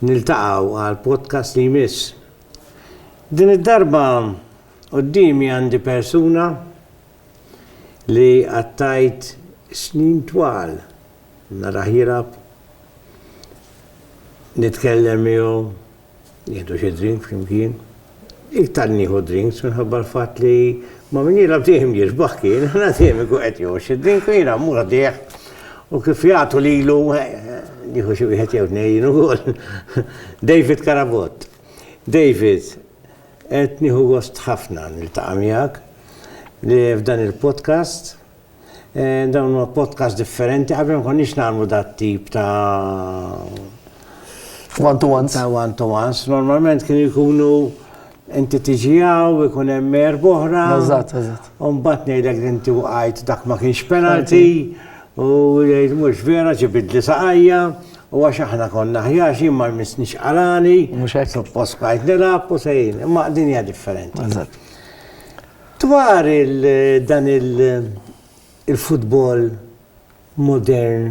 Niltaqgħu għal podcast li jmiss. Din id-darba quddiemi għandi persuna li qattajt snin twal narah jilgħab, nitkellem miegħu, Nieħdu xi drink flimkien. Iktar nieħu drinks minħabba l-fatt li ma' min jilgħab dejjem jirbaħ kien, aħna dejjem ikun qed jieħu xi drink u jiena mmur għaddejh u kif jagħtu lilu nieħu xi wieħed jew tnejn ukoll. David Carabott. David, qed nieħu gost ħafna niltaqa' miegħek li f'dan il-podcast Dawn huma podcasts differenti, qabel ma konniex nagħmlu dat-tip ta' One to ones. Ta' one to ones. Normalment kienu jkunu inti tiġi hawn, ikun hemm erba' oħra. Eżatt, eżatt. U mbagħad ngħidlek li inti waqajt dak ma kienx penalty u jgħid mhux vera ġibidli saqajja u għax aħna konna aħjar x'jien ma jmissnix qalgħani. Mhux hekk. Suppost bqajt nilgħab u sejrin. Imma din hija differenti. Eżatt. Dwar il dan il il-futbol modern,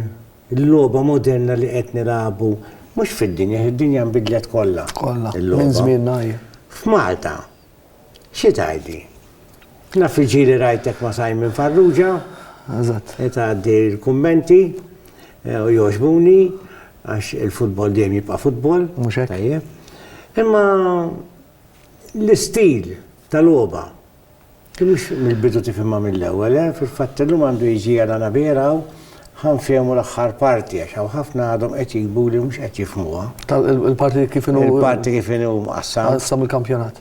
il-logħba moderna li qed nilagħbu, mhux fid-dinja, għax id-dinja nbidlet kollha. Kollha, minn żmienna hi. F'Malta, xi tgħidli? Naf il-ġieli rajtek ma' Simon Farrugia. Eżatt. Qed tgħaddi l-kummenti u jogħġbuni għax il-futbol dejjem jibqa' futbol. Mhux hekk. Tajjeb. Imma L-istil ta' logħba. Ti mhux mill-bidu tifhimha mill-ewwel, eh? Fil-fatt illum għandu jiġi għal Anabir hawn ħa nfehmu l-aħħar parti għax hawn ħafna għadhom qed jigbu li mhux qed jifhmuha. Il-parti kif inhu Il-parti kif inhu mqassam. Qassam il-kampjonat.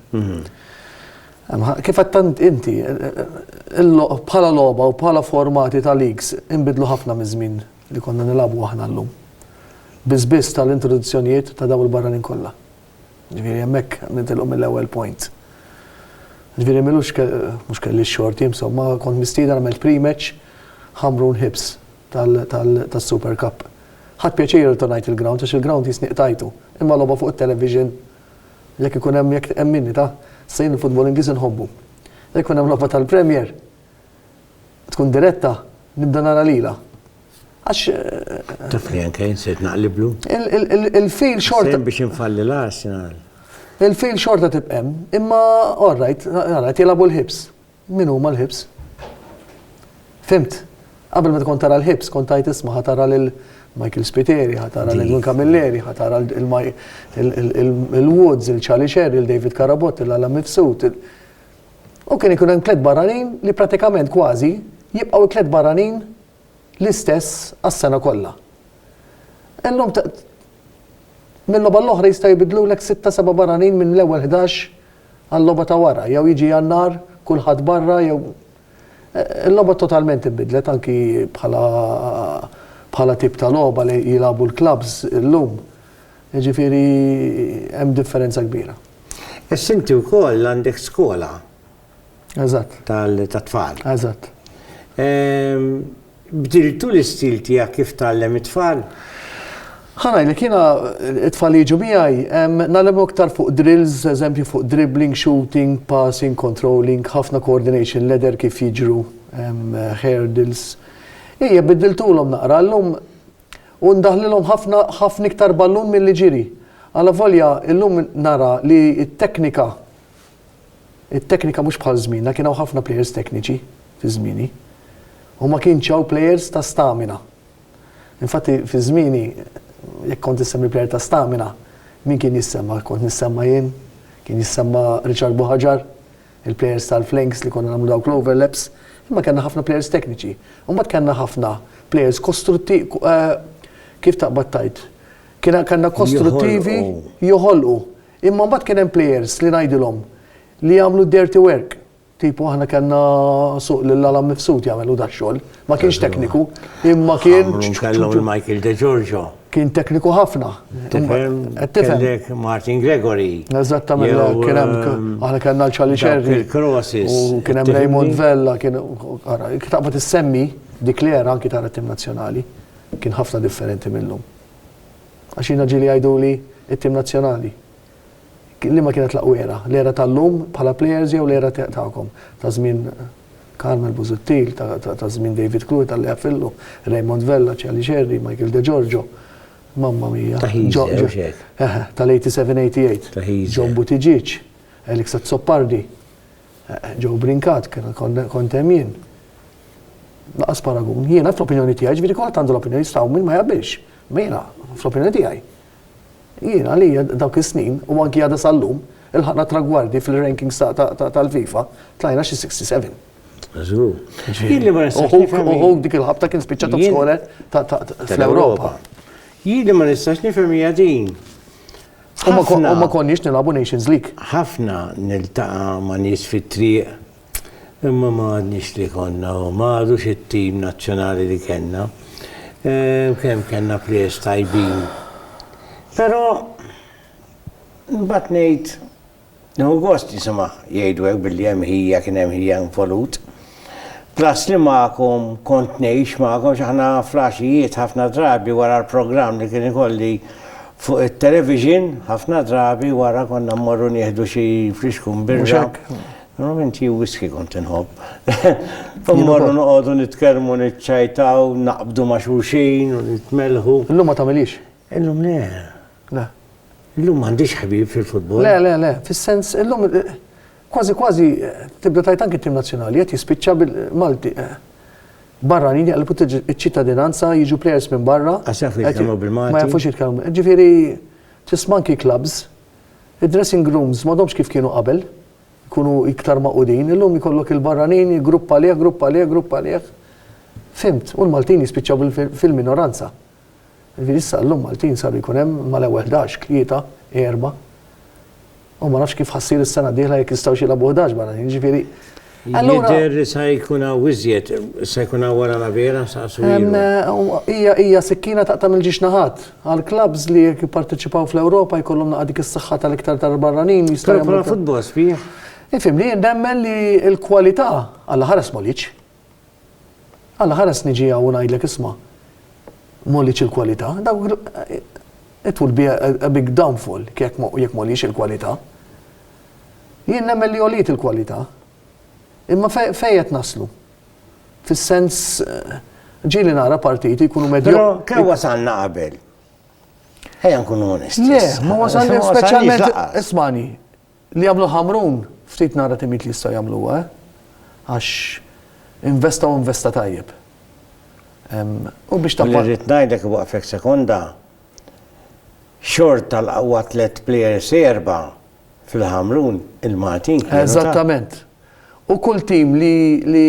Kif għattant inti, bħala logħba u bħala formati ta' leagues inbidlu ħafna miż-żmien li konna nilagħbu aħna llum. Biss biss tal-introduzzjonijiet ta' dawn il-barranin kollha. Ġifieri hemmhekk nitilqu mill-ewwel point. Ġifieri m'ilux mhux kelli x-xorti insomma, kont mistieden għamilt pre-match Ħamrun Hibs tas-Super Cup. Ħadt pjaċir irritornajt il-ground għax il-ground jisni qtajtu. Imma logħba fuq it-television jekk ikun hemm jekk emminni ta', sejn il-futbol Ingliż inħobbu. Jekk ikun hemm logħba tal-Premier, tkun diretta, nibda nara lila. Għax. Taf li anke insejt naqliblu. Il-fil xorta. Biex infalli l-Arsenal. Il-fil xorta tibqem, imma all right, all right, jilabu l-ħibs. Min huma l-ħibs? Fimt? Qabel ma tkun tara l-ħibs, kont tajt isma ħatara lil Michael Spiteri, ħatara lil Edwin Camilleri, ħatara il-Woods, il-Charlie Sherry, il-David Karabot, il-Alam Mifsud. U kien ikun hemm klett barranin li prattikament kważi jibqgħu l-klett barranin l-istess għas-sena kollha. Illum minn logħba l-oħra jistgħu jbiddlulek sitta seba' barranin minn l-ewwel ħdax għal-logħba ta' wara, jew jiġi Jannar kulħadd barra jew Il-logħba totalment inbidlet anki bħala bħala tip ta' logħba li jilagħbu l-klabbs illum. Jiġifieri hemm differenza kbira. Issa inti wkoll għandek skola. Eżatt. Tat-tfal. Eżatt. Bdiltu l-istil tiegħek kif tgħallem it-tfal? Ħa ngħidlek, jiena t-tfal li jiġu miegħi ngħallimhom iktar fuq drills, eżempju fuq dribbling, shooting, passing, controlling, ħafna coordination, ladder kif jiġru, hurdles. Ejja, biddiltulhom naqra. Llum. U ndaħħlilhom ħafna ħafna iktar ballun milli ġiri. Alavolja illum nara li t-teknika, it-teknika mhux bħal żmienna, kien hawn ħafna plejers tekniċi fi żmieni. U ma kienx hawn plejers ta' stamina. Infatti fi żmieni jekk kont issemmi plejer ta' stamina, min kien jissemma? Kont nissemma jien, kien jissemma Richard Buhaġar, il-plejers tal-flanks li konna nagħmlu dawk l-overlaps, imma kellna ħafna plejers tekniċi. U mbagħad kellna ħafna plejers kostrutti eh, kif taqbad tajt. Kiena kellna kostruttivi joħolqu. Imma mbagħad kien hemm plejers li ngħidilhom li jagħmlu dirty work. Tipo aħna kellna suq lil Alam Mifsud jagħmelu da xogħol. Ma kienx tekniku, imma kien. Kellhom il-Michael De Giorgio. Kien tekniku ħafna. Kellek Martin Gregory. Eżattament, kien hemm um, aħna kellna l-Charlie Cherry. U kien hemm Raymond Vella, kien ara, taqbad issemmi dik li era anki tara tim nazzjonali. Kien ħafna differenti minnhom. Għax jiena ġieli jgħidu li it-tim nazzjonali. Liema kienet l-aqwa era? L-era tal-lum bħala plejers jew l-era tagħkom, ta' żmien Carmel Busuttil, ta' żmien David Krul, ta' Lea Fillu, Raymond Vella, Charlie Scerri, Michael Degiorgio, mamma mia, tal-87, 88, John Buttigieg, Alex Azzopardi, Joe Brincat, kont hemm jien. Laqas paragun. Jiena fl-opinjoni tiegħi, ġifieri kulħadd għandu l-opinjoni tiegħu min ma jaqbilx. Jiena fl-opinjoni tiegħi. Jien, għalija, dawk is-snin, u anki għada sal-lum, ilħaqna tragwardi fil-rankings tal-FIFA, tlajna xi 67. Żgur. Jien li ma nistax nifhem. U Hulk dik il-ħabta kien spiċċa top scorer fl-Ewropa. Jien li ma nistax nifhem hija din. U ma konniex nilagħbu Nations League. Ħafna niltaqa' ma' nies fit-triq Imma ma għadniex li konna u ma għadux it-tim nazzjonali li kellna. Ehm, kemm kellna players tajbin. Però mbagħad ngħid Nieħu gost nisimgħ jgħidu hekk billi hemm ħija kien hemm ħija involut. Plus li magħkom kont ngħix magħkom x'aħna flaxijiet ħafna drabi wara l-programm li kien ikolli fuq it-television, ħafna drabi wara konna mmorru nieħdu xi friskun birra. Normalment hi whisky kont inħobb. Immorru noqogħdu nitkellmu niċċajtaw, naqbdu ma' xulxin u nitmelħu. Illum ma tagħmilhiex? Illum le. Le. Illum m'għandix ħbieb fil-futbol. Le, le, le, fis-sens illum kważi kważi tibda tajt anki tim nazzjonali qed jispiċċa bil-Malti. Barra nini għalbu ċittadinanza jiġu players minn barra. Għasaf li jitkellmu bil-Malti. Ma jafux jitkellmu. Ġifieri tisma' anki clubs, id-dressing rooms m'għadhomx kif kienu qabel. jkunu iktar magħqudin. Illum jkollok il-barranin grupp għalih, grupp għalih, grupp għalih. Fhimt, u l-Maltin jispiċċaw fil-minoranza. Ġifieri issa llum Maltin saru jkun hemm mal-ewwel 11, tlieta, erba'. U ma nafx kif ħassir is-sena d-dieħla jekk jistgħux jilagħbu 11 barranin, ġifieri Jidher li sa jkun hawn iżjed, sa jkun hawn wara la vera sa Hija hija sikkina taqta' mill-ġiex naħat. Għall-klabbs li jekk jipparteċipaw fl-Ewropa jkollhom naqgħad dik is-saħħa tal-iktar tal-barranin jistgħu jagħmlu. Però futbol sbieħ. Ifhimni, jien nemmen li l-kwalità Alla ħares Moliċ. Alla ħares niġi hawn u ngħidlek isma' Moliċ il-kwalità, it will be a big downfall jekk Moliċ il-kwalità. Jien nemmen li għoliet il-kwalità. Imma fejn qed naslu? Fis-sens ġieli nara partiti jkunu medju. Però kemm wasalna qabel? Ejja nkunu onesti. Le, ma wasalni speċjalment ismani li jagħmlu ħamrun ftit nara timit li jistgħu jagħmluha, eh? Għax investa u investa tajjeb. U biex ta' Rrid ngħidlek waqfek sekonda. Xort tal-qawwa tliet players erba' fil-Ħamrun il-Maltin kienu ta'. Eżattament. U kull tim li li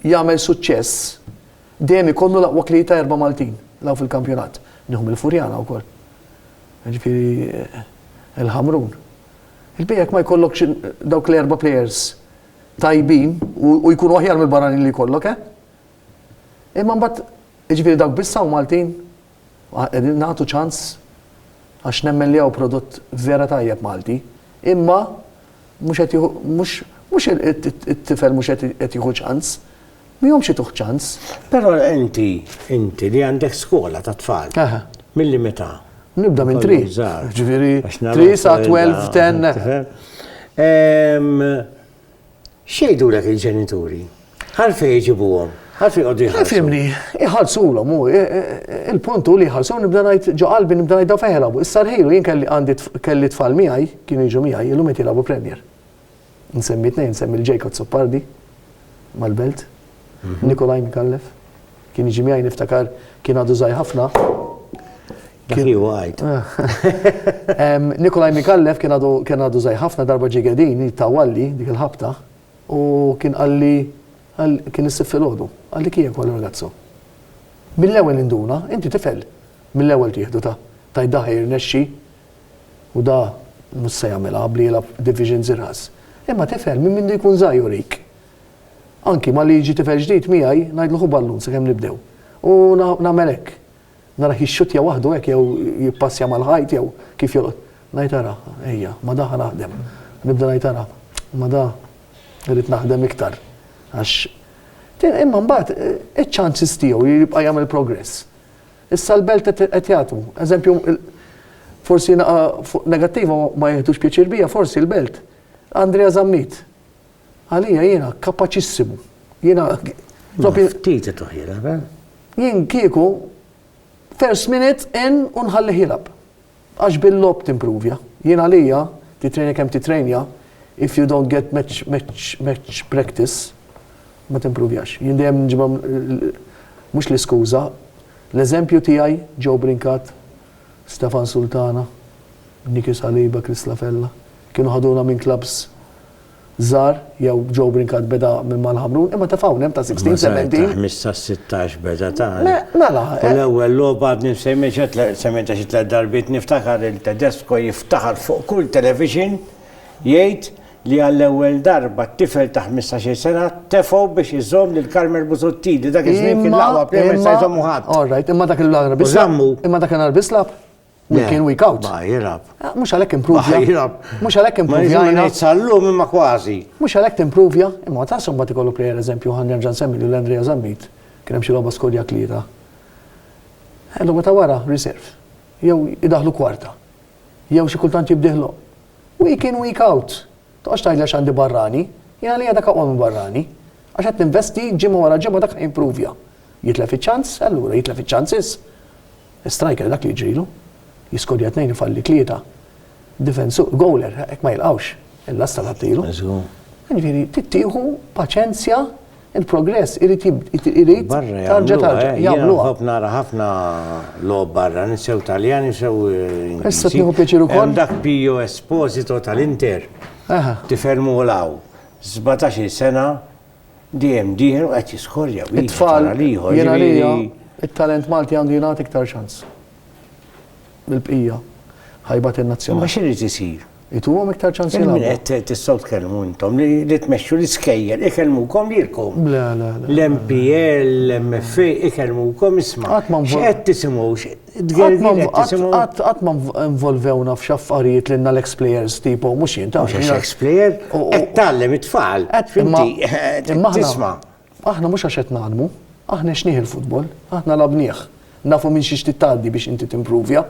jagħmel suċċess dejjem ikollu l-aqwa tlieta erba' Maltin law fil-kampjonat. Nieħu mill-Furjana wkoll. Jiġifieri il-Ħamrun. Il-bqija jekk ma jkollokx dawk l-erba' players tajbin u jkunu aħjar mill-barranin li jkollok, eh? Imma mbagħad jiġifieri dawk biss hawn Maltin? Qegħdin nagħtu ċans għax nemmen li hawn prodott vera tajjeb Malti, imma mhux qed jieħu mhux mhux it-tifel mhux qed jieħu ċans, mihomx ituh ċans. Però inti inti li għandek skola ta' tfal. Milli meta? Nibda minn tri. Ġifieri tri sa 12, 10. X'jgħidulek il-ġenituri? Għalfejn iġibuhom? Għalfejn jqogħdu jħallsu? Ifhimni, iħallsulhom hu, il-punt hu li jħallsu, nibda ngħid ġo qalbi nibda ngħid dawn fejn jilagħbu. Issa rħilu jien kelli għandi kelli tfal miegħi, kienu jiġu miegħi, illum qed jilagħbu Premier. Insemmi tnejn, insemmi lil Jacob Azzopardi mal-Belt, Nikolaj Micallef, kien jiġi miegħi niftakar kien għadu żgħir ħafna, Dak li huwa għajt. Nikolaj Mikallef kien għadu żgħir ħafna darba ġie gedin jittawalli dik il-ħabta u kien qalli kien issib filgħodu. Qalli kien jekk ragazzo. Mill-ewwel induna, inti tifel, mill-ewwel tieħdu ta' tajt da ħajrnexxi u da mhux se jagħmilha bli jilgħab division żirgħas. Imma tifel minn mindu jkun żgħir jurik. Anki malli jiġi tifel ġdid miegħi ngħidlu ħu ballun sakemm nibdew. U nagħmel hekk. Narah jixxuttja waħdu hekk jew jippassja mal-ħajt jew kif jolqot. Ngħid ara, ejja, ma' da ħa naħdem. Nibda ngħid ara, ma' da irrid naħdem iktar għax imma mbagħad iċ-chances tiegħu li jibqa' jagħmel progress. Issa l-belt qed jagħtu. Eżempju, forsi naqa' fuq negattiva ma jiħdux pjaċir bija, forsi l-belt. Andrea Zammit. Għalija jiena kapaċissimu. Jiena. Ftit ituh jilgħab, eh? Jien kieku first minute in u nħallih jilgħab. Għax bil-lob timpruvja. Jien għalija titrejna kemm titrejna if you don't get match, match, match practice ma timpruvjax. Jien dejjem nġibha mhux l-iskuża. L-eżempju tiegħi Joe Brinkat, Stefan Sultana, Niki Saliba, Chris Lafella, kienu ħaduna minn klabs żgħar jew Joe Brincat beda minn Mal Ħamrun, imma ta' f'hawn hemm ta' 16, 17. Ta' 15, 16 beda ta'. Mela. U l-ewwel logħba għadni msemmieha semmejtha xi tliet darbiet niftakar lil Tedesco jiftaħar fuq kull television jgħid li għall-ewwel darba tifel ta' 15-il sena tefgħu biex iżomm lil Carmel Busuttil li dak iż-żmien kien l-aqwa player ma jista' jżommu ħadd. All right, imma dak il-nar bislab. U żammu. Imma dak in-nar bislab. Week in, week out. Ma jirab. Ah, mux għalek improvja. Ma jirab. Mux għalek improvja. Ma jirab. Sallum imma kważi. Mux għalek improvja. Imma ta' somba ti kollu plejer eżempju għan nerġan semmi li l-Andrea Zammit. Kien hemm xi logħba skodja tlieta. Eh, logħba ta' wara, reserve. Jew idaħlu kwarta. Jew xi kultant jibdiħlu. Week in, week out. Toqgħodx tgħidla x'għandi barrani. Jena li għadak aqwa minn barrani. Għax qed ninvesti ġimgħa wara ġimgħa dak improvja. Jitlef iċ-ċans, allura jitlef iċ-ċansis. Striker dak li jiġrilu. Jiskorja tnejn ifalli tlieta. Difensu, goaler hekk ma jilqgħux il-lasta li tagħtilu. Jiġifieri trid tieħu paċenzja il-progress irid irid tarġa' tarġa'. Jagħmluha. Ħobb nara ħafna logħob barra sew Taljani u sew Ingliżi. Issa tieħu pjaċir ukoll. Hemm dak Pio Esposito tal-Inter. Aha. Tifhermu l-hawn. Sbatax-il sena. Dejjem dieħel u qed jiskorja wieħed It-tfal wara l-ieħor. jien għalija jiġifieri- it-talent Malti għandu jingħata iktar ċans. Mill-bqija. Ħajba Imma tin-nazzjonali. x'irid isir? Ituhom iktar ċans Min jilagħbu. qed tistgħu tkellmu intom li li tmexxu l-iskejjel ikellmukom lilkom. Le, le, le. L-MPL, l-MFA ikellmukom isma'. Qatt ma nvol- X'qed tisimgħu? Qatt ma involvewna f'xi affarijiet lilna l-ex-plejers tipo, mhux jien taf. Mhux ex-plejer, qed tgħallem it-tfal. Tisma'. Aħna mhux għax qed ngħallmu, aħna għexnieh il-futbol, aħna lagħbnieh. Nafu minn xiex trid tgħaddi biex inti timpruvja.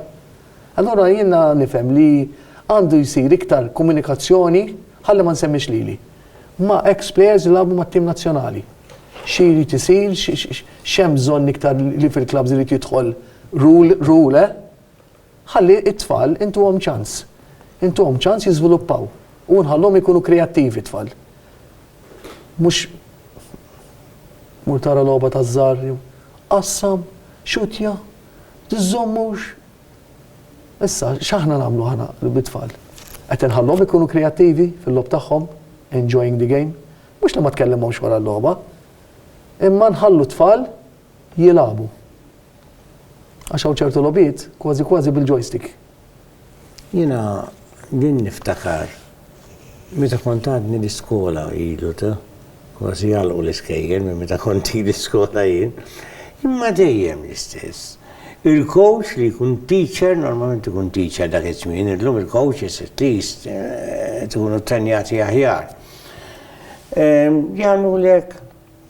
Allura jiena nifhem li għandu jsir iktar komunikazzjoni, ħalli ma nsemmix lili. Ma' ex players li lagħbu mat-tim nazzjonali. Xi jrid isir, x'hemm bżonn iktar li fil-klabbs irid jidħol rule, rule, eh? Ħalli t-tfal intuhom ċans. Intuhom ċans jiżviluppaw u nħalluhom ikunu kreattivi t-tfal. Mhux mur tara logħba taż-żgħar jew qassam, xutja, tiżżommux, Issa, x'aħna nagħmlu aħna bit-tfal? Qed inħalluhom ikunu kreattivi fil-logħob tagħhom, enjoying the game? Mhux li ma tkellimhomx wara l-logħba, imma nħallu t-tfal jilagħbu. Għax hawn ċertu logħbiet kważi kważi bil-joystick. Jiena din niftakar. Meta kont għadni l-iskola, ilu ta' kważi jagħlqu l-iskejjel minn meta kont ili l-iskola jien, imma dejjem l-istess. Il-coach li jkun teacher, normalment ikun teacher dak iż-żmien, illum il-coaches at least qed ikunu trenjati aħjar, jagħmlulek,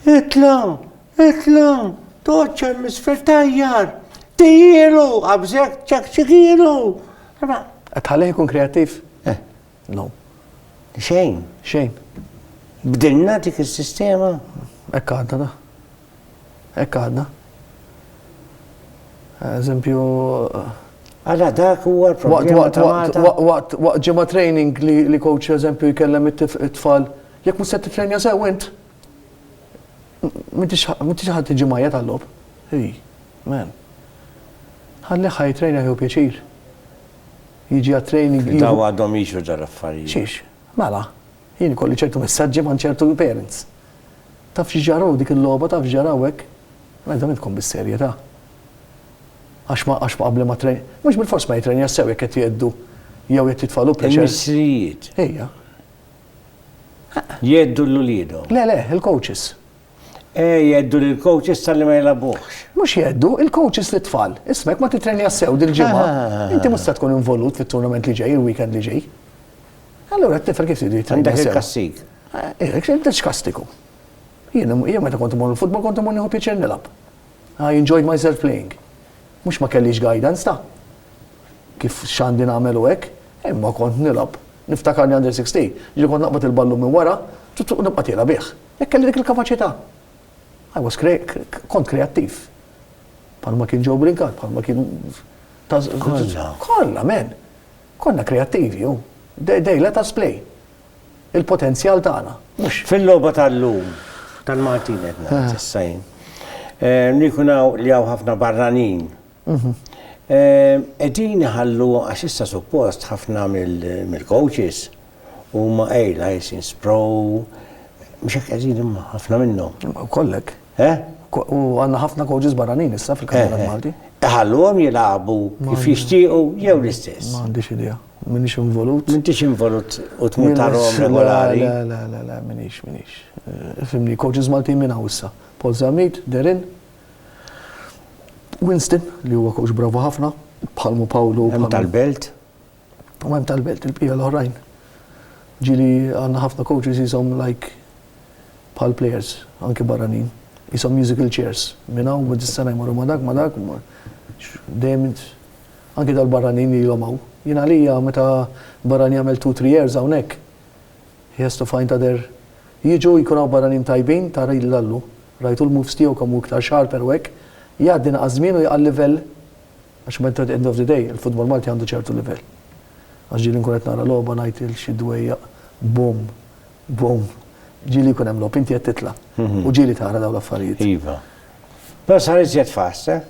Itla', itla', toqgħodx hemm isfel tgħajjar, tiehielu, qabżek, ċekċikielu! Imma qed tħallih ikun kreattiv? Eh. No. Xejn. Xejn. Bdilna dik is-sistema? Hekk għadna da. Hekk għadna. Eżempju, Għala dak huwa l-problema ta' Malta. Waqt ġimgħa training li coach eżempju jkellem it-tfal, jekk mhux se tifrenja sew int, M'intix m'intix ħadd tiġi mgħajjat għal-logħob. Hi, man. Ħallih ħa jitrejna jieħu pjaċir. Jiġi għat-training jieħu. Dawn għadhom jiġru dal-affarijiet. Xiex? Mela, jien ikolli ċertu messaġġi ma' ċertu parents. Taf xi ġara hu dik il-logħba, taf x'ġara hu hekk? Mela dan idkom bis-serjetà. Għax ma għax ma qabli ma tren. Mhux bilfors ma jitrejnax sew jekk qed jgħeddu jew qed jitfagħlu pressure. Il-missirijiet. Ejja. Jgħeddu lil uliedhom? Le, le, il-coaches. Eh, jgħeddu lill-coaches talli ma jilagħbuhx. Mhux jgħeddu, il-coaches lit-tfal. Isma' jekk ma tittrenjax sew dil-ġimgħa, inti mhux se tkun involut fit-tournament li ġej, il-weekend li ġej. Allura t-tifel kif tridu jittrenjaw sew? Għandek il-kastig. Eh, eh x'kastigu? Jien meta kont imur il-futbol kont imur nieħu pjaċir nilgħab. I enjoyed myself playing. Mhux ma kellix guidance ta' kif x'għandi nagħmel u hekk, imma kont nilgħab. Niftakar li under 16, ġieli kont naqbad il-ballun minn wara u nibqa' tiela' bih. Hekk kelli dik il-kapaċità. I was kont kreattiv. Bħalma kien Joe Brincat, bħalma kien Kollha. Kollha, men. Konna kreattivi, u they let us play. il-potenzjal tagħna. Fil-logħba tal-lum tal-Maltin qed ngħid issa jien. Nikun hawn li hawn ħafna barranin. Qegħdin iħallu għax issa suppost ħafna mill-coaches huma ejla jisin sprow. Mhux hekk qegħdin imma ħafna minnhom. Kollek. U għandna ħafna coaches barranin issa fil-kampjonat Malti. Iħalluhom jilagħbu kif jixtiequ jew l-istess. M'għandix idea. M'iniex involut. M'intix involut u tmur tarahom regolari? Le, le, le, le, m'iniex, m'iniex. Fimni, coaches Maltin min hawn issa? Paul Zammit, Derin, Winston li huwa coach bravu ħafna, bħalmu Pawlu. Hemm tal-belt? U hemm tal-belt il-bqija l-oħrajn. Ġili għandna ħafna coaches jisom like bħal players, anke barranin. Jisom musical chairs. Min hawn ma dis-sena jmorru ma dak, ma dak, dejjem Anki dal-barranin ilhom hawn. Jien għalija meta barrani jagħmel two, three years hawnhekk, he has to find other Jiġu, jkun hawn barranin tajbin, tara jidhli l-Allu. Rajtu l-moves tiegħu kemm hu iktar sharper u hekk. Jgħaddi naqas żmien u jaqal livell għax at the end of the day il-futbol Malti għandu ċertu livell. Għax ġieli nkun qed nara logħba ngħid lil xi dwejjaq boom, boom. Ġieli jkun hemm logħob, inti qed titla'. U ġieli tara dawn l-affarijiet. Iva. Però sar iżjed fast, eh?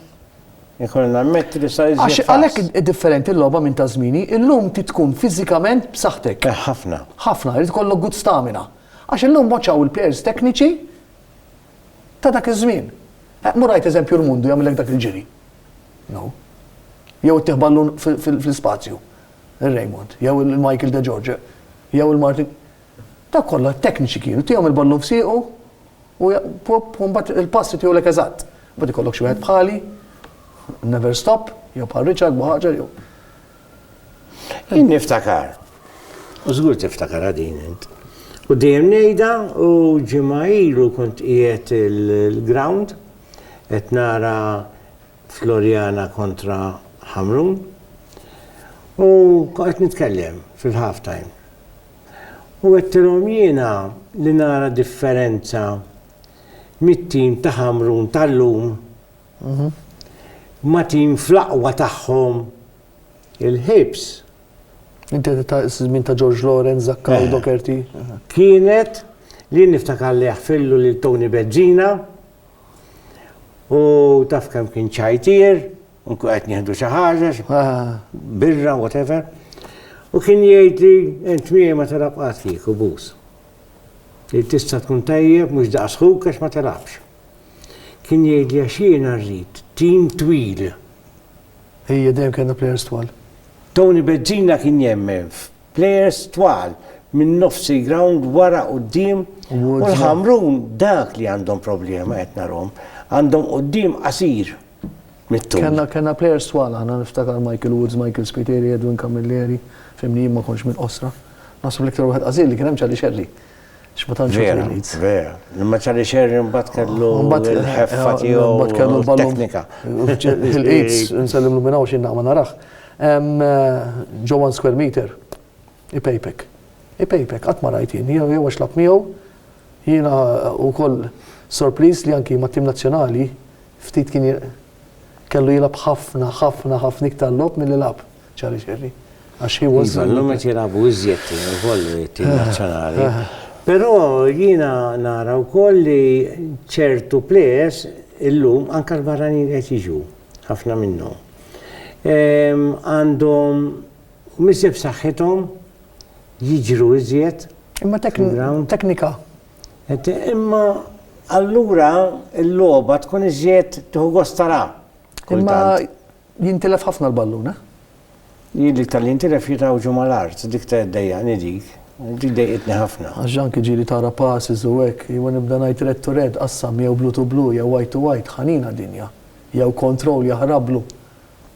Ikolli nammetti li sar iżjed faċli. Għalhekk hi differenti l-logħba minn ta' żmieni, illum trid tkun fiżikament b'saħħtek. Eh ħafna. Ħafna, irid ikollok good stamina. Għax illum waċċaw il-plejers tekniċi ta' dak iż-żmien. Eh mur għid eżempju Rmundu jagħmillek dak il-ġiri. No. Jew ittih ballun fl-ispazju. Ir-Raymond, jew il-Michael De George, jew il-Martin. Dawk kollha tekniċi kienu, tihom il-ballun f'siequ, U mbagħad il-passi tiegħu lek eżatt. Mbagħad ikollok xi wieħed bħali, never stop, jew bħal Richard Muħaġer jew. Jien niftakar. U żgur tiftakar din int. U dejjem ngħidha u ġimgħa ilu kont qiegħed il-ground qed nara Floriana kontra Hamrun. U qed nitkellem fil-half time. u għedtilhom jiena li nara differenza mit-tim ta' Ħamrun tal-lum ma' tim fl-aqwa tagħhom, il-Hibs. Inti qed tgħid iż-żmien ta' George Lawrence, Zaccagni, Docherty. Kienet li jien niftakar li jaħfirlu lil Tony Bezzina u taf kemm kien ċajtier. Unku qed nieħdu xi ħaġa, birra, whatever. U kien jgħid li int miegħi ma telab qatt kieku bus. Tista' tkun tajjeb mhux daqs ħuk għax ma telabx. Kien jgħid li għax jiena rrid tim twil. Ejja dejjem kellna players twal. Tony Bezzina kien jemmen f'players twal minn nofsi ground wara qudiem u l-ħamrun dak li għandhom problema qed narhom. Għandhom qudiem qasir. Mit-tul. Kellna kellna players twal aħna niftakar Michael Woods, Michael Spiteri, Edwin Camilleri, fimni jien ma kontx minn qosra. Naħseb l-iktar wieħed qażil li kien hemm Charlie Scerri. X'ma tantx Vera, leads. vera. Imma Charlie Sherry mbagħad kellu Mbagħad- l-ħeffa tiegħu mbagħad kellu u l-ballun. teknika. Il-AIDS, nsellimlu minn hawn x'inna ma narax. Em, eh, Ġo one square meter, ipejpek. Ipejpek, qatt ma rajt jien, jew jew għax lab miegħu, Jiena wkoll sorpriż li anki mat-tim nazzjonali ftit kien kellu jilgħab ħafna, ħafna, ħafna iktar logħob milli lagħab Charlie Scerri. Għax he was. Iva, llum qed jilagħbu iżjed tim ukoll it-tim nazzjonali. Però jiena nara wkoll li ċertu plejers illum anke l-barranin li qed jiġu, ħafna minnhom, għandhom mhux dejjem f'saħħithom, jiġru iżjed. Imma teknika. Imma allura l-logħba tkun iżjed tieħu gost tara. Imma jintilef ħafna l-ballun, eh? Jien li tal jintilef jitawġu mal-art, dik ta' d-dejja, nidik. Dik dejqitni ħafna. Għaxġan kħiġiri tara passi zuwek, jwen nibda najt red to red, qassam jew blue to blue, jew white to white, ħanina dinja. Jew control jahrablu.